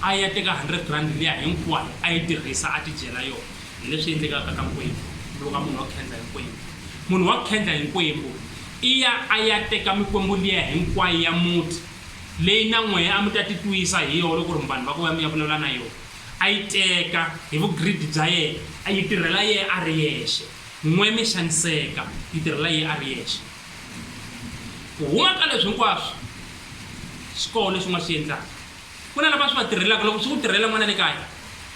Speaker 1: a ya teka hundred rand liya hinkwayo a yi tirhisa a tidyela yona. Hi leswi endlekaka ka nkwembu, loko munhu wa khendla hi nkwembu. Munhu wa khendla hi nkwembu. Iya a ya teka mikwembu liya hinkwayo ya muti, leyi na n'wehe a mi ta titwisa hi yona ku ri vanhu va ku va mi ya vulavula na yona. A yi teka hi vugiridi bya yena, a yi tirhela yena a ri yexe. N'we mi xaniseka, yi tirhela yena a ri yexe. Ku huma ka leswi hinkwaswo, swi kona leswi u nga swi endlaka. Ku na lava swi va tirhelaka. Loko swi ku tirhela n'wana le kaya,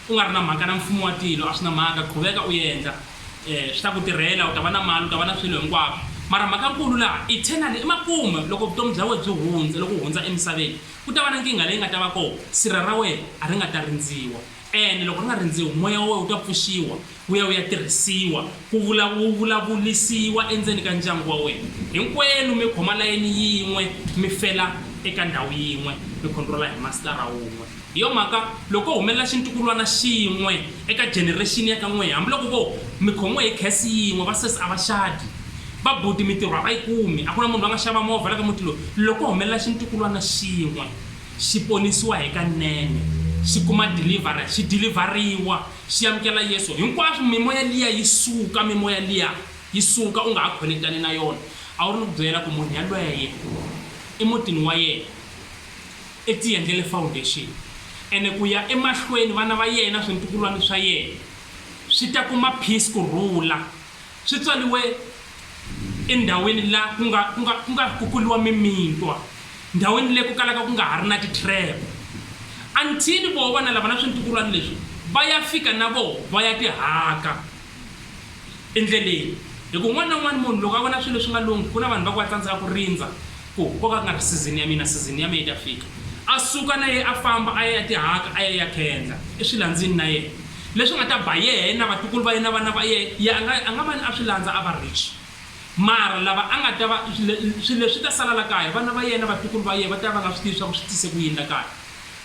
Speaker 1: u nga ri na mhaka na mfumo wa tilo, a swi na mhaka. Qhuveka u endla. Swi ta ku tirhela, u ta va na mali, u ta va na swilo hinkwako. Mara mhakankulu laha eternally, emakumu, loko vutomi bya wena byi hundza, loko u hundza emisaveni, ku ta va na nkingha leyi nga ta va kona. Sirha ra wena a ri nga ta rindziwa. Ene loko ri nga rindziwi, moya wa wena wu ta pfuxiwa wu ya wu ya tirhisiwa ku vula wu vulavulisiwa endzeni ka ndyangu wa wena. Hinkwenu mi khoma layeni yin'we, mi fela eka ndhawu yin'we, mi khontrola hi masitara wun'we. Hi yo mhaka, loko ko humelela xintukulwana xin'we eka generexini ya ka n'wehe, hambiloko vo mi khomiwe hi khesi yin'we, vasesi a va xadi, vabuti mitirho a va yi kumi, a ku na munhu la nga xava movha la ka muti lowu, loko ko humelela xintukulwana xin'we, xi ponisiwa hikanene, xi kuma deliverance, xi dilivhariwa, xi amukela Yesu, hinkwaswo, mimoya liya yi suka, mimoya liya yi suka, u nga ha khonekitani na yona. A wu ri ni ku byela ku munhu yalweye emutini wa yena i tiendlele foundation, ene ku ya emahlweni vana va yena, swintukulwana swa yena swi ta kuma peace, ku rhula. Swi tswaliwe endhawini la ku nga ku nga ku nga ri ku kuliwa mimintwa, ndhawini leyi ku kalaka ku nga ha ri na ti-trap, until voho vana lava na swintukulwana leswi va ya fika na voho va ya tihaka endleleni. Hi ku un'wana na un'wana munhu loko a vona swilo swi nga lunghi, ku na vanhu va ku va tsandzeka ku rindza, Ku koka nga ri sizini ya mina, sizini ya me yi ta fika. A suka na yena a famba a ya etihaka a ya ya khendla eswilandzini na yena. Leswi nga ta ba yena na vatukulu va yena na vana va yena, yena a nga a nga va ni a swi landza a va rich. Mara lava a nga ta va, swilo leswi ta sala la kaya, vana va yena na vatukulu va yena va ta va va nga swi tivi swa ku swi tise ku yini la kaya.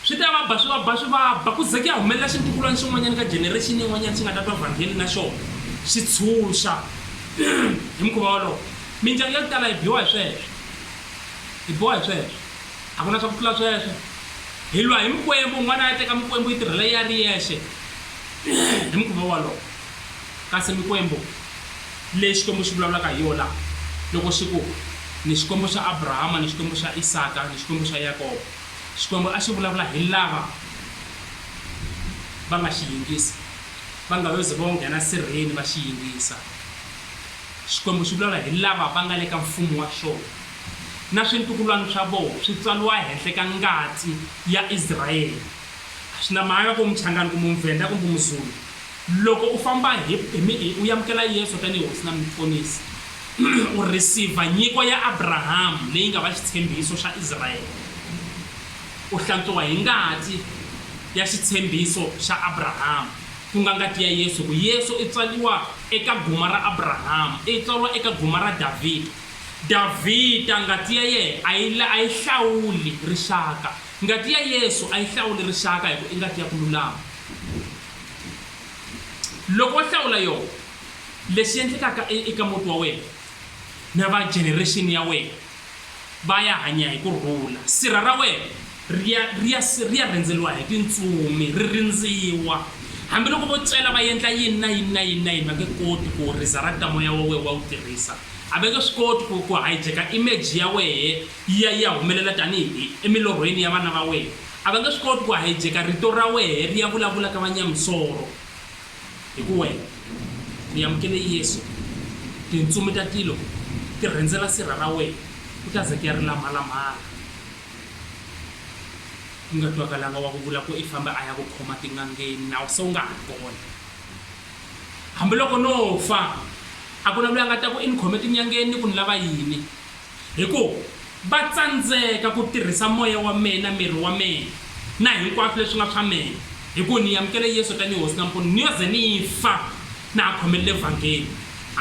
Speaker 1: Swi ta va ba, swi va ba, swi va ba, ku ze ku ya humelela xintukulwana xin'wanyana ka generexini yin'wanyana xi nga ta twa vhangeli na xona xi tshunxa. Hi mukhuva wolowo, mindyangu ya ku tala yi biwa hi sweswo. Yi biwa hi sweswo. A ku na swa ku tlula sweswo. Hi lwa hi mikwembu, un'wana a ya teka mikwembu yi tirhela yena a ri yexe hi mukhuva wolowo. Kasi mikwembu leyi Xikwembu xi vulavulaka hi yona loko xi ku, Ni Xikwembu xa Abrahama, ni Xikwembu xa Isaka, ni Xikwembu xa Yakobo, Xikwembu a xi vulavula hi lava va nga xi yingisa, va nga yo ze vo nghena sirheni va xi yingisa. Xikwembu xi vulavula hi lava va nga le ka mfumo wa xona, na swintukulwana swa vona swi tswaliwa henhla ka ngati ya Israele. A swi na mhaka ku u Muchangani, kumbe u Muvhenda, kumbe u Muzulu, Loko u famba hi, hi mi, hi, u yamukela Yesu tanihi Hosi na Muponisi, u rhisiva nyiko ya Abrahamu leyi nga va xitshembiso xa Israele. U hlantswiwa hi ngati ya xitshembiso xa Abrahamu, ku nga ngati ya Yesu, hikuva Yesu i tswaliwa eka guma ra Abrahamu, i tswalwa eka guma ra Davhida. Davhida, ngati ya yena a yi, a yi hlawuli rixaka. Ngati ya Yesu a yi hlawuli rixaka hikuva i ngati ya ku lulama. Loko wo hlawula yona, lexi endlekaka e, eka muti wa wena na va generation ya wena va ya hanya hi ku rhula. Sirha ra wena ri ya ri ya ri ya rindzeriwa hi tintsumi, ri rindziwa. Hambiloko vo tswela va endla yini na yini na yini na yini, va nge koti ku resurrect-a moya wa wehe wa wu tirhisa. A va nge swi koti ku ku hijack-a image ya wehe yi ya yi ya humelela tanihi emilorhweni ya vana va wena. A va nge swi koti ku hijeka rito ra wehe ri ya vulavula ka vanyamisoro, hi ku wehe u yamukele Yesu, tintsumi ta tilo ti rhendzela sirha ra wehe, ku ta ze ku ya ri lamhala-mhala, ku nga twakalanga wa ku vula ku i fambe a ya ku khoma tin'angeni, nawu se wu nga ha ri kona. Hambiloko no fa, a ku na loyi a nga ta ku i ni khome tin'yangeni ni ku ni lava yini. Hi ku va tsandzeka ku tirhisa moya wa mehe na miri wa mehe na hinkwaswo leswi nga swa mehe, hi ku ni yamukele Yesu tanihi Hosi na Mpfuni, ni yo ze ni fa na ha khomelele vhangeli.